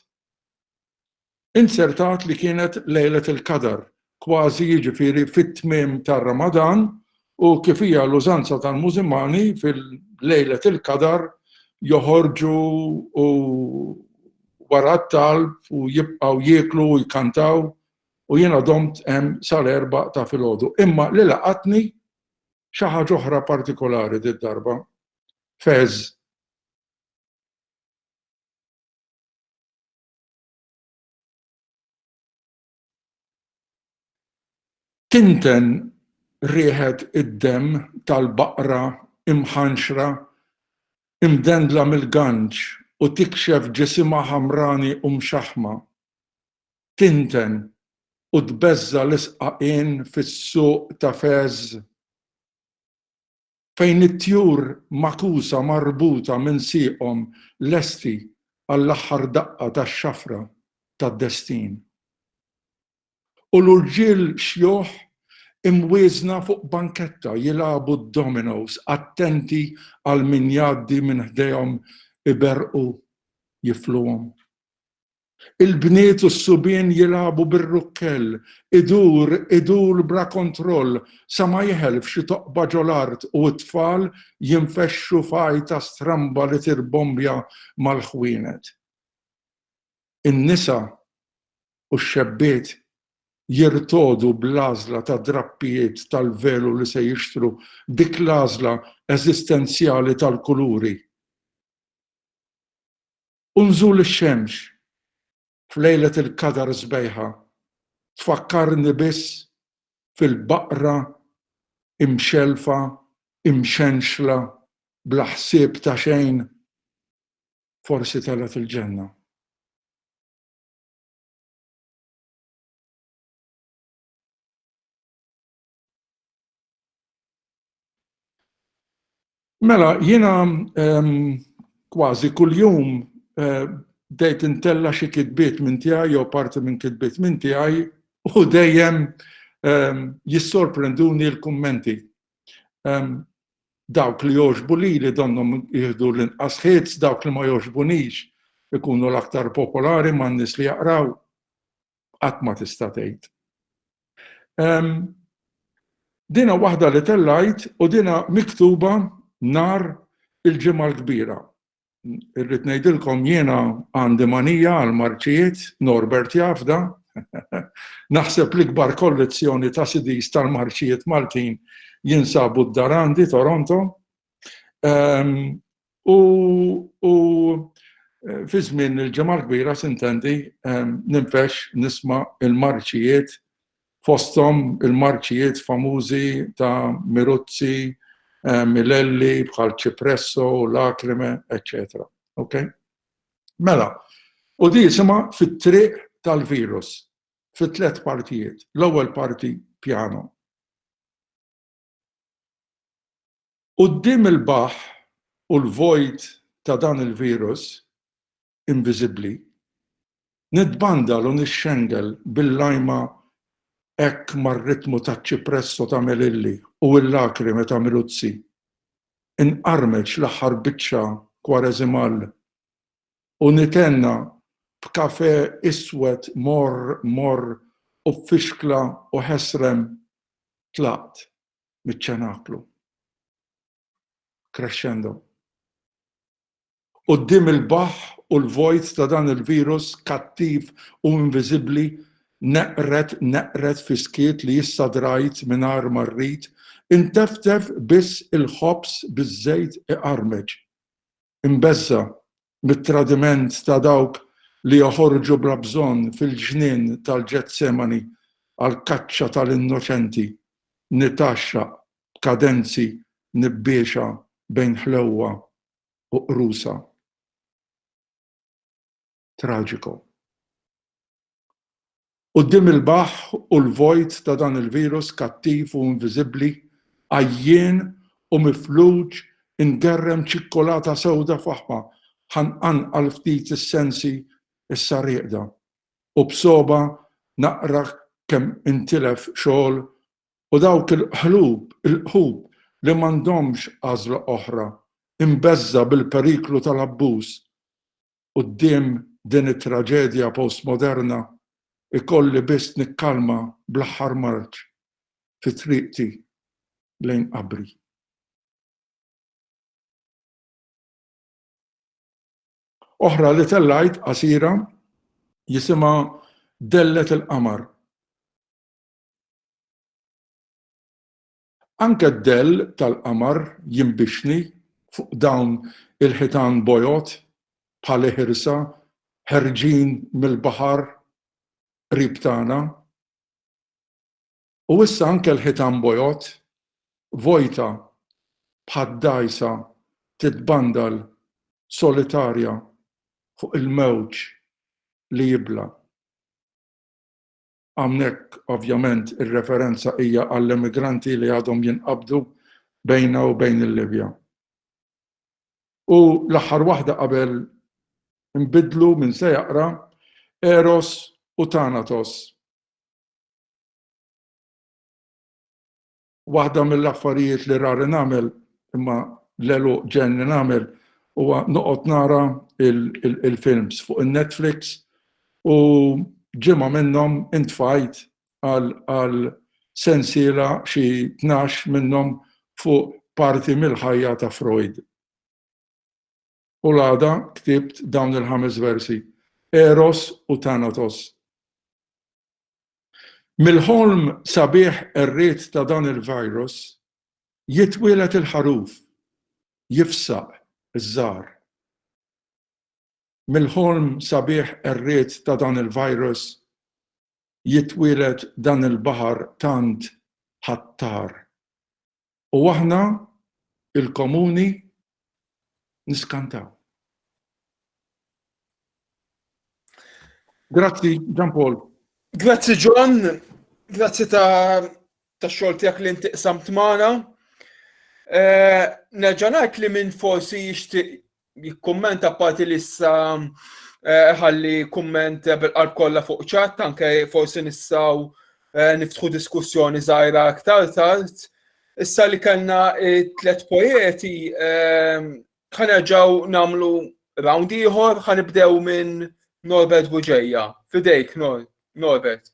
Inzertat li kienet Lejlat il-Qadar, kważi jiġifieri fit-tmiem tar-Ramadan u kif hija l-użanza tal-Mużilmani fil-Lejlat il-Qadar joħorġu u wara t-talb u jibqgħu jieklu u jkantaw u jiena domt hemm sal-erbgħa ta' filgħodu. Imma li laqatni xi ħaġa oħra partikolari did-darba. Fez. Tinten riħet id-demm tal-baqra imħanxra imdendla mill-ganġ u tikxef ġisimha ħamrani u mxaħħma. Tinten u tbeżża' l-isqaqien fis-suq ta' Fez. fejn it-tjur magħkusa marbuta minn sieqhom lesti għall-aħħar daqqa tax-xafra tad-destin. U l-urġiel xjuħ imwieżna fuq banketta jilagħbu d-dominos attenti għal min jgħaddi minn ħdejhom iberrqu jifluhom. Il-bniet u s-subien jilagħbu bir-rukkell, idur, idur bla kontroll sa ma jeħel f'xi toqba ġol-art u t-tfal jinfexxu f'għajta stramba li tirbombja mal-ħwienet. In-nisa u x-xebbiet jirtogħdu bl-għażla ta' drappijiet tal-velu li se jixtru, dik l-għażla eżistenzjali tal-kuluri. U nżul ix-xemx f'lejlet il-Qadar sbejħa tfakkarni biss fil-baqra imxellfa imxenxla bla ħsieb ta' xejn forsi telgħet il-ġenna. Mela, jiena kważi kuljum eh, bdejt intella xi kitbiet minn tiegħi jew parti minn kitbiet minn tiegħi u dejjem jissorprenduni l-kummenti. Dawk li joġbu li li donnom jihdu l-inqas ħiedz, dawk li ma joġbunix ikunu l-aktar popolari ma' nis li jaqraw. qatt ma tista' tgħid. Dinha waħda li tellajt u dinha miktuba nhar il-Ġimgħa l-Kbira. Irrid ngħidilkom jiena għandi manija għal marċijiet, Norbert jafda, naħseb l-ikbar kollezzjoni ta' sidis tal-marċijiet Maltin jinsabu d-Darandi, Toronto. U eh, fi żmien il-ġemgħa kbira sintendi eh, ninfex nisma' il-marċijiet fosthom il-marċijiet famużi ta' Miruzzi, eh, Milelli, bħal Cipresso, Lacrime, etc. Ok? Mela, u di jisima fit-triq tal-virus, fit-tlet partijiet. L-ewwel parti piano, Quddiem il-baħħ u l-vojt ta' dan il-virus inviżibbli, nitbandal u nixxengel bil-lajma hekk mar-ritmu taċ-ċipresso ta' Melilli u l-lakrime ta' Miluzzi, inqarmeċ l-aħħar biċċa kwareżimall u nitenna b'kafè iswed morr morr u b'fixkla u ħesrem tlaqt miċ-ċenaklu. Crescendo. Quddiem il-baħħ u l-vojt ta' dan il-virus kattiv u inviżibbli neqred neqred fi skiet li issa drajt mingħajr ma rrid, inteftef biss il-ħobż biż-żejt iqarmeġ. imbeżża' mit-tradiment ta' dawk li joħorġu bla bżonn fil-ġnien tal-Ġetsemani għall-kaċċa tal-innoċenti, nitgħaxxaq b'kadenzi nibbiexa bejn ħlewwa u qrusa. traġiku. Quddiem il-baħħ u l-vojt ta' dan il-virus kattiv u inviżibbli, għajjien u mifluġ ingerrem ċikkulata sewda faħma ħa nqanqal ftit is-sensi issa rieqda u b'sogħba naqra kemm intilef xogħol u dawk il-qlub, il-qħub li m'għandhomx għażla oħra, imbeżża' bil-periklu tal-abbuż, quddiem din it-traġedja postmoderna ikolli biss nikkalma bl-aħħar marċ fi triqti lejn qabri. Oħra li tellajt qasira jisimha Dellet il-Qamar. Anke d-dell tal-qamar jinbixni fuq dawn il-ħitan bojod bħal iħirsa ħerġin mill-baħar qrib tagħna. U issa anke l-ħitan bojod, vojta bħad-dgħajsa titbandal solitarja fuq il-mewġ li jibla. Hawnhekk ovvjament ir-referenza hija għall-emigranti li għadhom jinqabdu bejna u bejn il-Libja. U l-aħħar waħda qabel inbiddlu min se jaqra, Eros u Thanatos. Waħda mill-affarijiet li rari nagħmel, imma l-għeluq ġenn li nagħmel, huwa noqgħod nara il-films fuq in-Netflix u ġimgħa minnhom intfajt għal sensiela xi tnax minnhom fuq parti mill-ħajja ta' Freud. U l-għada ktibt dawn il-ħames versi, Eros u Thanatos. Mill-ħolm sabiħ qerriet ta' dan il-virus jitwieled il-ħaruf, jifsaq iż-żgħar. Mill-ħolm sabiħ qerriet ta' dan il-virus jitwieled dan il-baħar tant ħattar. U aħna, il-komuni, niskantaw. Grazzi, Gian Paul. Grazzi, John. Grazzi ta' ta' xogħol tiegħek li inti qsamt magħna. Eh, nerġa' ngħid li minn forsi jixtieq jikkummenta parti li issa eh, ħalli kumment bil-qalb kollha fuq ċat, anke forsi nistgħu eh, niftħu diskussjoni żgħira aktar tard. Issa li kellna tliet poeti eh, ħanerġgħu nagħmlu round ieħor ħanibdew minn Norbert Buġeja. Fidejk Norbert.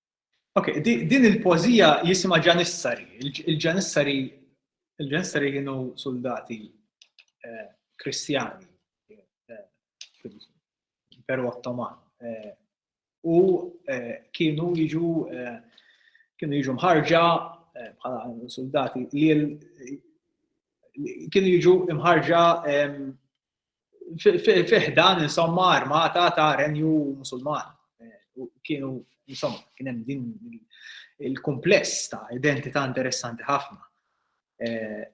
Ok, din il-pożija jisimha Ġanissari. Il-Ġanissari il-Ġanissari kienu soldati eh, kristjani eh, fil-Imperu Ottoman. Eh, u kienu jiġu kienu jiġu mħarġa bħala soldati li kienu jiġu mħarġa fi ħdan insomma armata ta' renju musulman. Kienu insomma kien hemm din il-kumpless ta' identità interessanti ħafna. Eh,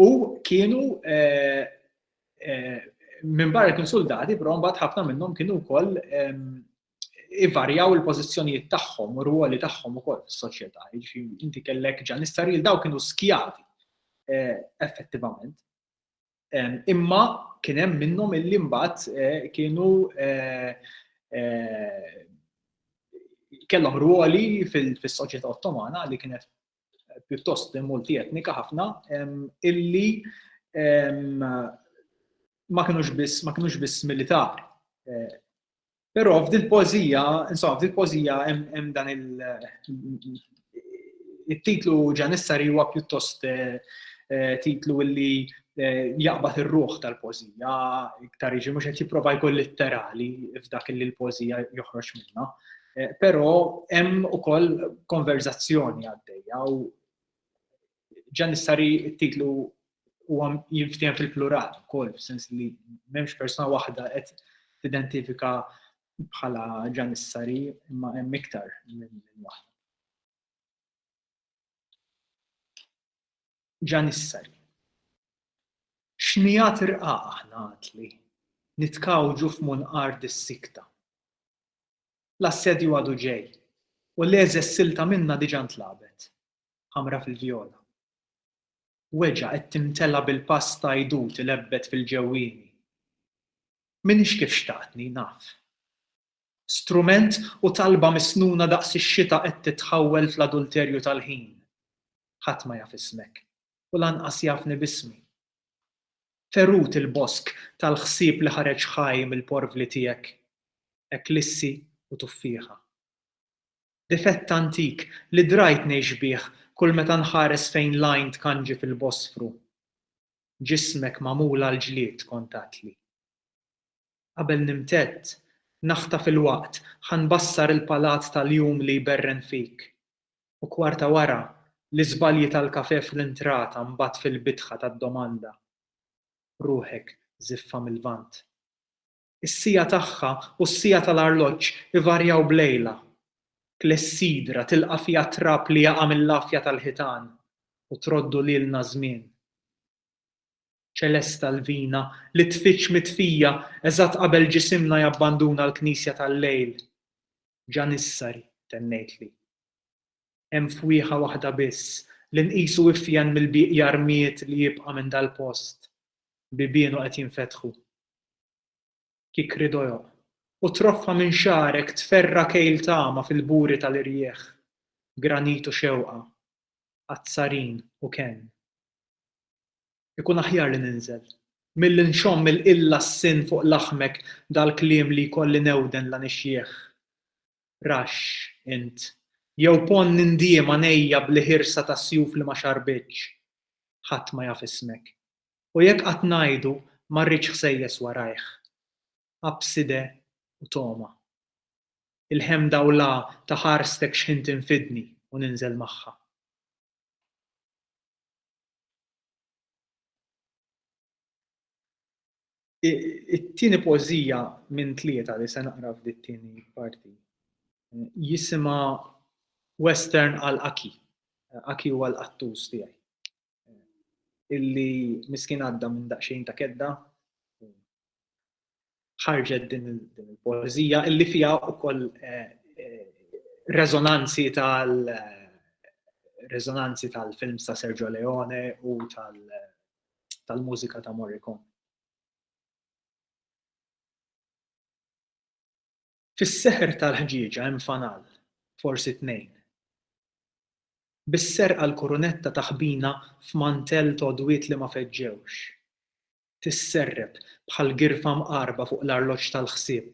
u kienu eh, eh, minn barra kien soldati, però mbagħad ħafna minnhom kienu wkoll ehm, ivarjaw il-pożizzjonijiet tagħhom u r-ruoli tagħhom ukoll fis-soċjetà. Jiġifieri inti kellek ġan istaril daw kienu skjavi effettivament. Imma kien hemm minnhom illi mbagħad eh, kienu eh, eh, kellhom ruoli fis-soċjetà Ottomana li kienet pjuttost multi etnika ħafna illi ma kienux biss ma kienux biss militari Però f'dil-pożija, insomma, f'dil-pożija hemm dan il-titlu ġanissari huwa pjuttost eh, eh, titlu li eh, jaqbad ir-ruħ tal-pożija, iktar iġi mhux qed jipprova jkun litterali f'dak li l-pożija joħroġ minnha. Però hemm ukoll konverzazzjoni għaddejja u ġanissari t-titlu huwa jinftiehem fil-plural ukoll, f'sens li m'hemmx persuna waħda qed tidentifika bħala ġanissari imma hemm iktar minn waħda. Ġanissari. Xnijat irqa aħna għatli, nitkawġu f'munqar dis-sikta. L-assedju għadu ġej, u l-eżessilta minna diġa ntlabet. ħamra fil-vjola. Weġgħa qed timtela' bil-pass ta' għidut ilebbet fil-ġewwieni. M'iniex kif xtaqtni, naf. Strument u talba misnuna daqs ix-xita qed titħawwel fl-adulterju tal-ħin. Ħadd ma jaf ismek, u lanqas jafni b'ismi. Ferut il-bosk tal-ħsieb li ħareġ ħaj mill-porvli tiegħek, eklissi u tuffieħa. difett antik li drajt ngħix bih kull meta nħares fejn l-għajn tkanġi fil-Bosfru. Ġismek magħmul għall-ġlied, kont għedtli. Qabel nimtedd, naħtaf il-waqt, ħa nbassar il-palat tal-jum li jberren fik. U kwarta wara, l-iżbalji tal-kafè fl-intrata mbagħad fil-bitħa tad-domanda. Ruħek żiffa mil-Lvant. Is-siegħa tagħha u s-siegħa tal-arloġġ ivarjaw b'lejla. Klessidra tilqa' fiha t-trab li jaqa' mill-għafja tal-ħitan u troddu lilna ż-żmien. Ċelesta Lvina li tfiġġ mitfija eżatt qabel ġisimna jabbanduna l-knisja tal-lejl. Ġanissari, tennejtli. Hemm fwieħa waħda biss, li nqisu ifjen mill-bieqja rmied li jibqa' minn dal-post. Bibienu qed jinfetħu. Kikri dojoq. U troffa minn xagħrek tferra' kejl tama fil-buri tal-irjieħ. Granit u xewqa. Azzarin u kenn. Ikun aħjar li ninżel. Milli nxomm il-qilla s-sinn fuq laħmek dal-kliem li jkolli newden la nixjieħ. raxx, int, jew ponn nindiema ngħejja bl-ħirsa ta' sjuf li ma xarrbitx, ħadd ma jaf ismek. U jekk qatt ngħidu, ma rridx ħsejjes warajh. Abside u togħma. Il-ħemda u l-għa ta' ħarstek x'ħin tinfidni u ninżel magħha. It-tieni pożija minn tlieta li se naqra f'dit-tieni parti jisimha Western għal Aki. Aki huwa l-qattus tiegħi. Illi miskin għadda minn daqsxejn ta' kedda ħarġet din il-poezija illi fiha wkoll eh, eh, rezonanzi tal rezonanzi tal-film ta' Sergio Leone u tal-mużika ta' Morricone. Fis-seħer tal-ħġieġa hemm fanal, forsi tnejn. Bis-serqa l-kurunetta taħbina f'mantell todwiet li ma feġġewx. tisserreb bħal girfa mqarrba fuq l-arloġġ tal-ħsieb.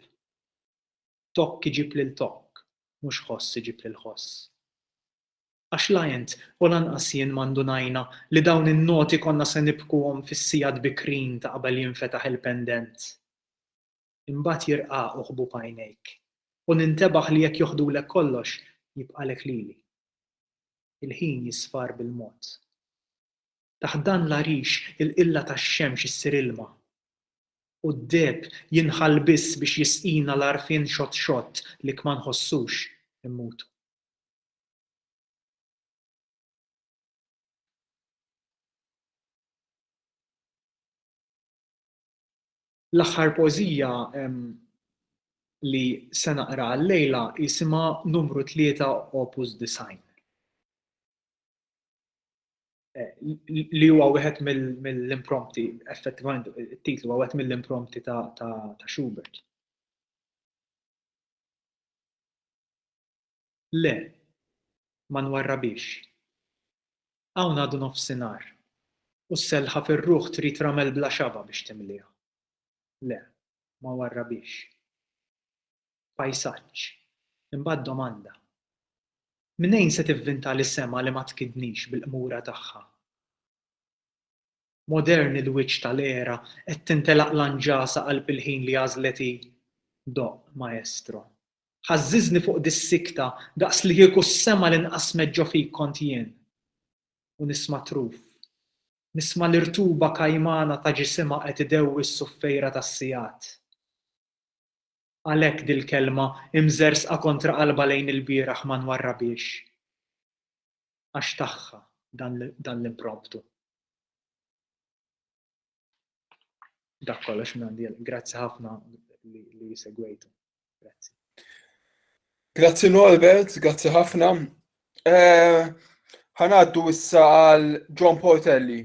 Tokk iġib lil tokk, mhux ħoss iġib lil ħoss. Għax la int u lanqas jien ma ndunajna li dawn in-noti konna se nibkuhom fis-sigħat bikrin ta' qabel jinfetaħ il-pendent. Imbagħad jirqaqu ħbub għajnejk u nintebaħ li jekk joħdulek kollox, jibqalek lili. Il-ħin jisfar bil-mod. Taħt dan l-għarix il-qilla tax-xemx issir ilma, u d-deheb jinħall biss biex jisqina l-għarfien xott xott li kma nħossux immutu. L-aħħar poeżija li se naqra għal-lejla jisimha Numru Tlieta Opus Disgħin. li huwa wieħed mill-imprompti, effettivament it-titlu huwa wieħed mill-imprompti ta' Schubert. Le, ma nwarrabix. Hawn għadu nofsinhar, u s-selħa fir-ruħ trid ramel bla xaba biex timliha. Le, ma warrabix. pajsaġġ, imbagħad domanda. Mnejn se tivvinta li sema li ma tkidnix bil-qmura tagħha? Modern il-wiċċ tal-era qed tintelaq l-anġasa qalb il-ħin li għażlet hi? Doqq, maestro. Ħażżiżni fuq dis-sikta daqs li kieku s-sema li nqasmet ġo fik kont jien. U nisma' truf. Nisma' l-irtuba kajmana ta' ġisimha qed idewwi s-suffejra tas-sigħat. Għalhekk dil-kelma imżerżqa kontra qalbha lejn ilbieraħ ma nwarrabhiex. Għax tagħha dan l-impromptu. Dak kollox minn għandi. Grazzi ħafna li segwejtu. Grazzi. Grazzi Norbert, grazzi ħafna. Eh, ħanaddu issa għal John Portelli.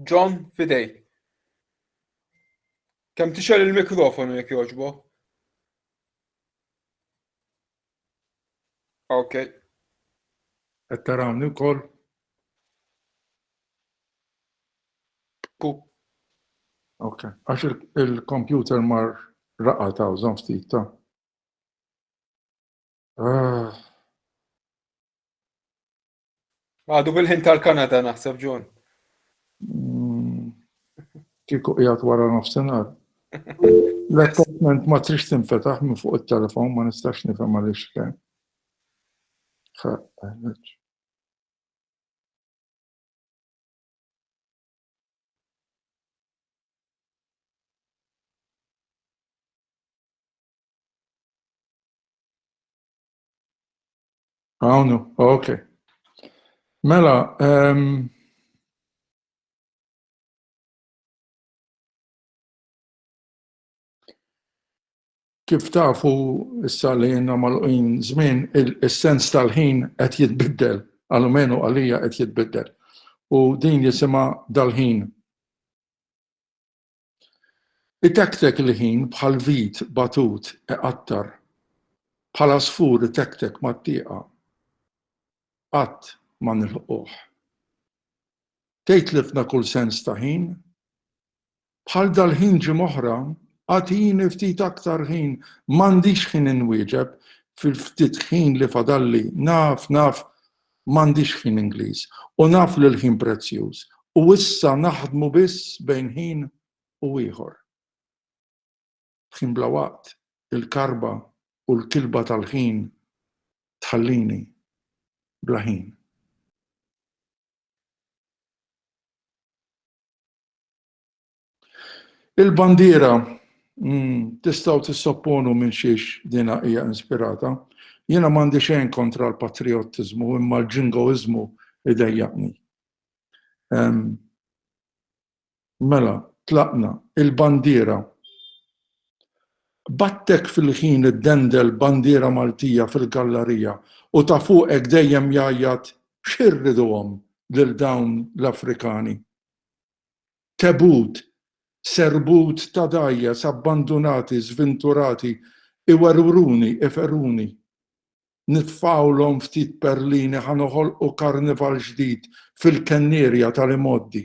John, fidejk. Kem tixel il-mikrofonu jek joġbo? Ok. Qed tarawni wkoll? Ku. Ok, għax il-computer mar raqa ta' użan ftit ta' Għadu bil-ħin tal-Kanada naħseb ġun. Mm, Kiku qiegħed wara nofsinhar. L-attachment ma trix tinfetaħ minn fuq it-telefon ma nistax nifhem għaliex kemm. Għawnu, ok. Mela, um, kif tafu issa li jenna mal-qin zmin, il-sens tal-ħin qed jitbiddel, għal-menu għalija qed jitbiddel. U din jisima dal-ħin. Itektek il-ħin bħal vid batut iqattar, bħal għasfur itektek mat-tieqa, qatt ma nilħquh. Tgħid tlifna kull sens ta' ħin? Bħal dal-ħin ġimgħoħra, agħtini ftit aktar ħin, m'għandix ħin inwieġeb, fil-ftit ħin li fadalli, naf, naf, M'għandix ħin Ingliż u naf li l-ħin prezzjuż u issa naħdmu biss bejn ħin u ieħor. Ħin bla waqt, il-karba u l-kilba tal-ħin tħallini bla ħin. Il-bandiera, tistgħu tissopponu minn xiex dinha hija inspirata. Jiena m'għandi xejn kontra l-patrijottiżmu imma l-ġingoiżmu idejjaqni. Mela, tlaqna, il-bandiera. B'attek fil-ħin iddendel bandiera Maltija fil-gallarija u ta' fuqek dejjem jgħajjat x'irriduhom lil dawn l-Afrikani. Tebut, serbut ta' dgħajjes abbandunati, żvinturati, iwerwruni, iferuni. Nitfgħulhom ftit perlini ħa noħolqu karnival ġdid fil-kennierja tal-imgħoddi.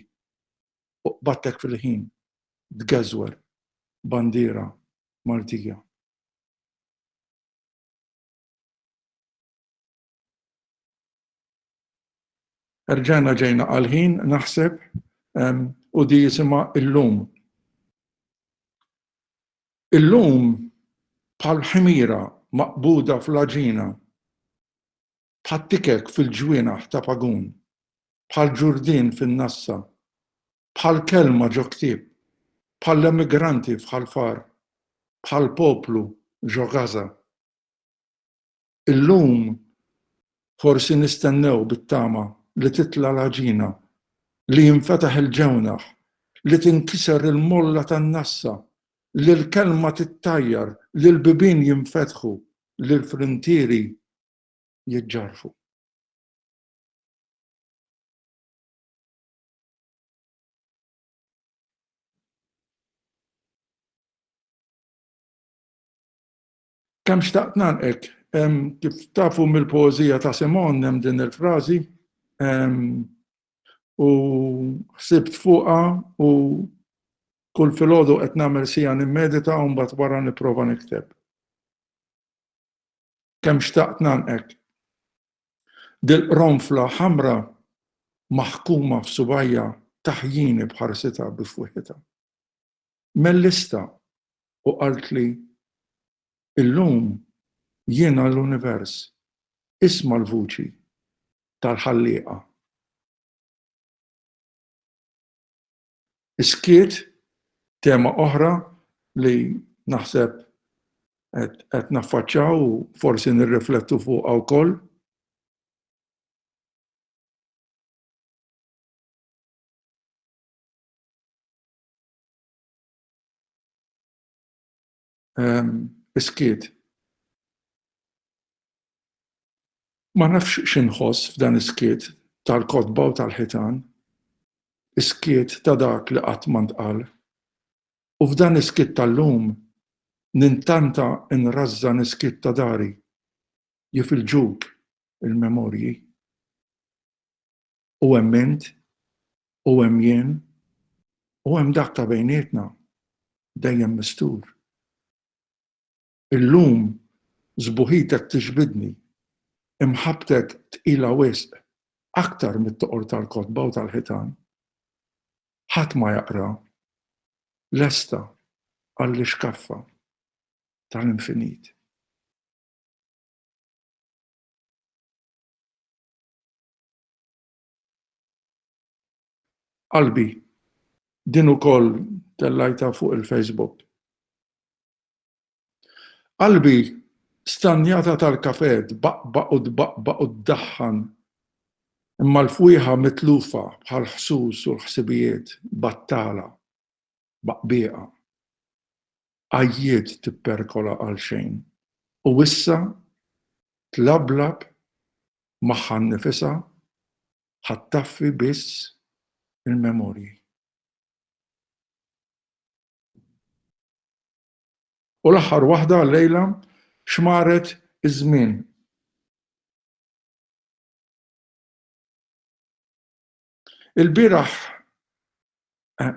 U qbadtek fil-ħin tgeżwer bandiera Maltija. Erġajna ġejna għal-ħin, naħseb, u di jisima illum. Illum bħal ħimira maqbuda fl-aġina, bħal tikek fil-ġwienaħ ta' pagun, bħal ġurdin fin-nassa, bħal kelma ġo ktieb, bħal emigranti fħal far, bħal poplu ġo Gaza. Illum forsi nistennew bit-tama li titla' l-għaġina, li jinfetaħ il-ġewnaħ, li tinkiser il-molla tan-nassa, li l-kelma tittajjar, li l-bibien jinfetħu, li l-frintieri jiġġarrfu. Kemm xtaqt nagħlqek. Kif tafu mill-poeżija ta' Simon hemm din il-frażi u ħsibt fuqha u kull filgħodu qed nagħmel siegħa nimmedita u mbagħad wara nipprova nikteb. Kemm xtaqt nagħlqek. Dil-qronfla ħamra maħkuma f'subajja taħjini b'ħarsitha bi fwiħitha. Mellista u qaltli, Illum jiena l-univers, isma' l-vuċi tal-Ħallieqa. Is-skiet, tema oħra li naħseb qed naffaċċaw u forsi nirriflettu fuqha wkoll. Iskiet. Ma nafx x'inħoss f'dan iskiet tal-kotba u tal-ħitan, iskiet ta' dak li qatt ma ntqal. U f'dan iskiet tal-lum nintanta nrażżan iskiet ta' dari, jifilġuk il-memorji. u hemm int, u hemm jien, u hemm dak ta' bejnietna, dejjem mistur. Illum sbuħitek tiġbidni, imħabbtek tqila wisq, aktar mit-toqor tal-kotba u tal-ħitan. Ħadd ma jaqra, lesta għall-ixkaffa tal-infinit. Qalbi, din ukoll tellajta fuq il-Facebook. Qalbi stanjata tal-kafe tbaqbaq u tbaqbaq u ddaħħan imma l-fwieħa mitlufa bħall-ħsus u l-ħsibijiet battala. baqbieqa. Għajjiet tipperkola għalxejn u issa tlablab magħha nnifisha ħa ttaffi biss il-memorji. U l-aħħar waħda għal-lejla xmaret iż-żmien. Il-bieraħ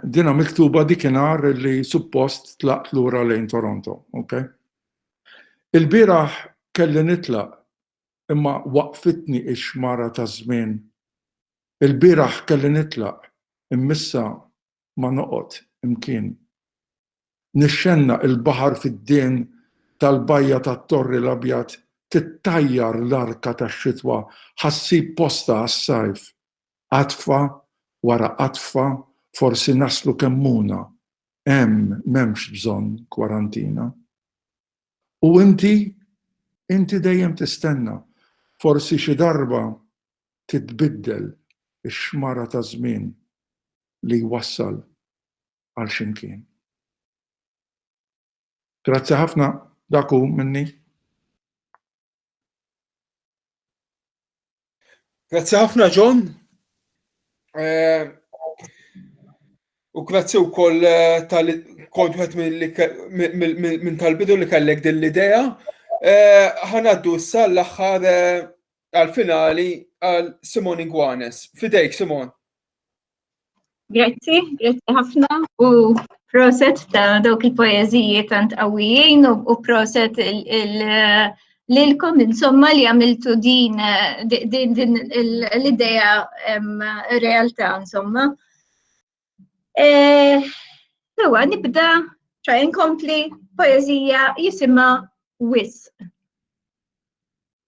dina miktuba dikinhar li suppost tlaqt lura lejn Toronto, ok? Il-bieraħ kelli nitlaq imma waqfitni ix-xmara taż-żmien. Il-bieraħ kelli nitlaq immissa ma noqgħod imkien. Nixxennaq il-baħar fid-dehn tal-bajja tat-Torri l-Abjad tittajjar l-arka tax-xitwa ħa ssib postha għas-sajf. Qatfa wara qatfa forsi naslu Kemmuna. Hemm m'hemmx bżonn kwarantina. U inti? Inti dejjem tistenna. Forsi xi darba titbiddel ix-xmara taż-żmien li jwassal għal x'imkien. Grazzi ħafna, dak hu minni. Grazzi ħafna John. Eh, u grazzi u koll eh, tal-kont minn tal-bidu li kellek din l-idea. Eh, ħanaddu issa l-axħar għal-finali għal Simon Ingwanes. Fidejk, Simon. Grazzi, grazzi ħafna u proset ta' dawk il-poeziji tant qawwijin u proset lilkom insomma li għamiltu din din l-idea realtà insomma. Eh, Ewa, nibda ċa inkompli poezija jisima Wisq.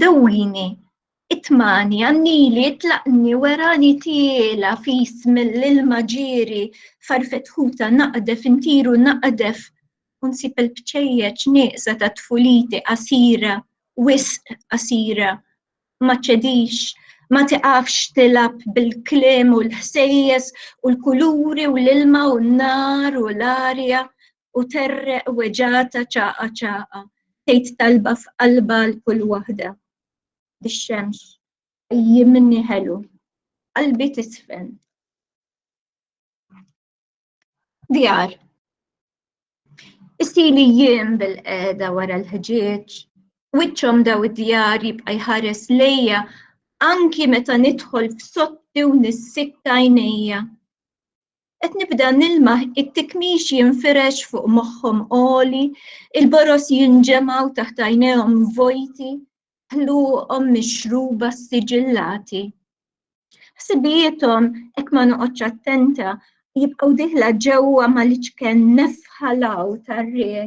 dawwini, itmani, għannili, itlaqni, werani tiela fis mill-ilma ġiri, farfetħuta naqdef, intiru naqdef, unsib il-bċejjeċ nieqsa ta' tfuliti qasira, wisq qasira, ma ċedix, ma tiqafx tilab bil-kliem u l-ħsejjes u l-kuluri u l-ilma u n-nar u l-arja, u terreq weġata ċaqa ċaqa tgħid talba f'qalba l kull waħda. Bix-xemx jimni ħelu, qalbi tisfen. Djar. Isili jiem bil-qeda wara l-ħġieġ, wiċċhom daw id-djar jibqa' jħares lejja anki meta nidħol f'sotti u nissikka għajnejja. Qed nibda nilmaħ it-tikmix jinfirex fuq moħħhom qoli, il-boros jinġemgħu taħt għajnejhom vojti, ħluqhom mixruba siġillati. Ħsibijiethom hekk ma noqgħodx attenta jibqgħu diħla ġewwa mal-iċken nefħalaw tar-riħ.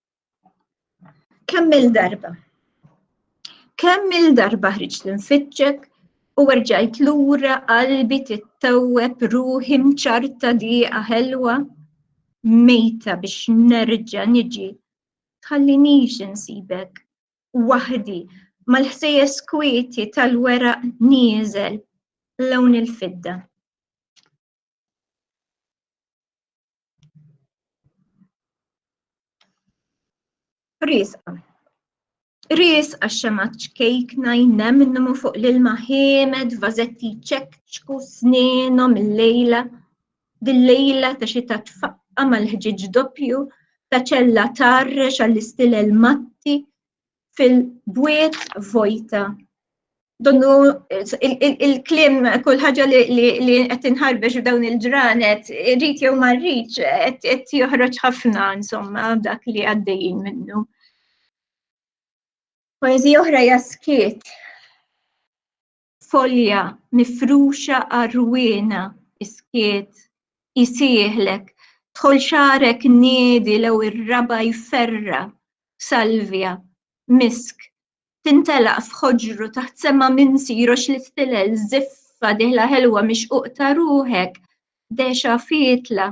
Kemm il-darba? Kemm il-darba ħriġt nfittxek u rġajt lura qalbi tittewweb ruħi mċarta diqa ħelwa mejta biex nerġa' niġi tħallinix insibek waħdi mal-ħsejjes kwieti tal-weraq nieżel lawn il-fidda. Riesqa. Riesqa xema ċkejkna jnemnu fuq l-ilma ħiemed, vazetti ċekċku sninhom il-lejla. Dil-lejla ta' xi ta' tfaqqa mal-ħġiġ doppju, ta' ċella tarrex għall-istilel matti, fil-bwiet vojta. Donnu il-klim kull ħaġa li qed inħarbex dawn il-ġranet, rrit jew ma rridx qed joħroġ ħafna insomma dak li għaddejjin minnu. Poezija oħra jaskiet. folja mifruxa għar-rwiena is-skiet isieħlek dħol xagħrek niedi lew ir-raba' jferra' salvja misk tintelaq f'ħoġru taħt sema minsi jroxx l-istilel żiffa dieħla ħelwa mixquq ta' ruħek dehxa fietla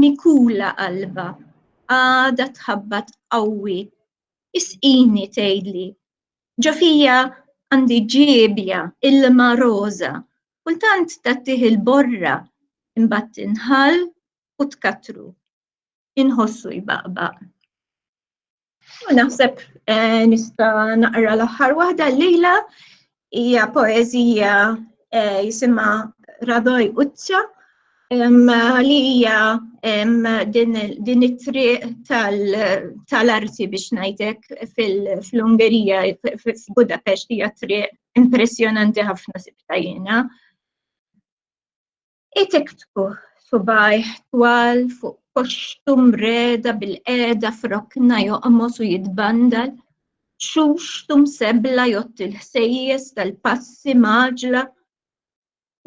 mikula qalbha għadha tħabbat qawwi isqini tgħidli ġo fija għandi ġiebja ilma roża kultant tagħtih il-borra imbagħad tinħall u tkattru inħossu jbaqbaq. U naħseb eh, nista naqra l-aħħar waħda lejla hija poeżija eh, jisimha Radoj Uċċa li hija din it-triq tal-arti biex ngħidek fil-Ungerija f'Budapest hija triq impressjonanti ħafna sibtajjena. Itiktbu subajh twal fuq koxtu mreda bil-qeda frokna joqmos u jitbandal, xuxtu msebla jott il-ħsejjes tal-passi maġla,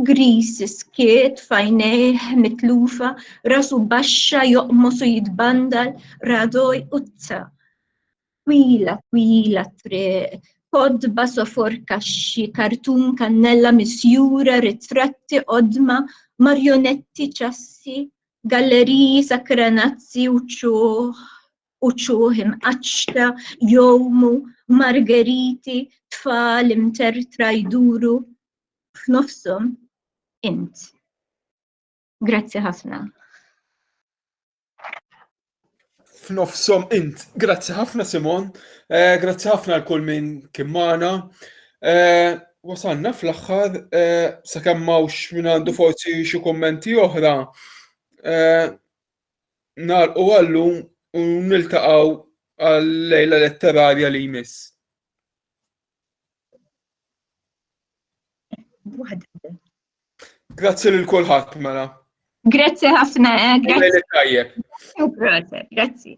gris skiet fajnejh mitlufa, rasu baxxa joqmos u jitbandal, radoj u t Twila, twila triq, kodba sofor kaxxi, kartun kannella misjura, ritratti qodma, marjonetti ċassi, galleriji sakranazzi u ċuħ u ċuħ imqaċċta, jomu, margeriti, tfal imtertra jduru f'nofshom int. Grazzi ħafna. F'nofsom int, grazzi ħafna Simon, eh, grazzi ħafna l kull minn kien magħna. Eh, wasalna fl-aħħar eh, sakemm mawx minn għandu forsi xi kummenti oħra. Nar u għallu u niltaqgħu għal-lejla letterarja li jmiss. Grazzi lil kulħadd mela. Grazzi ħafna, eh, grazzi. Grazzi.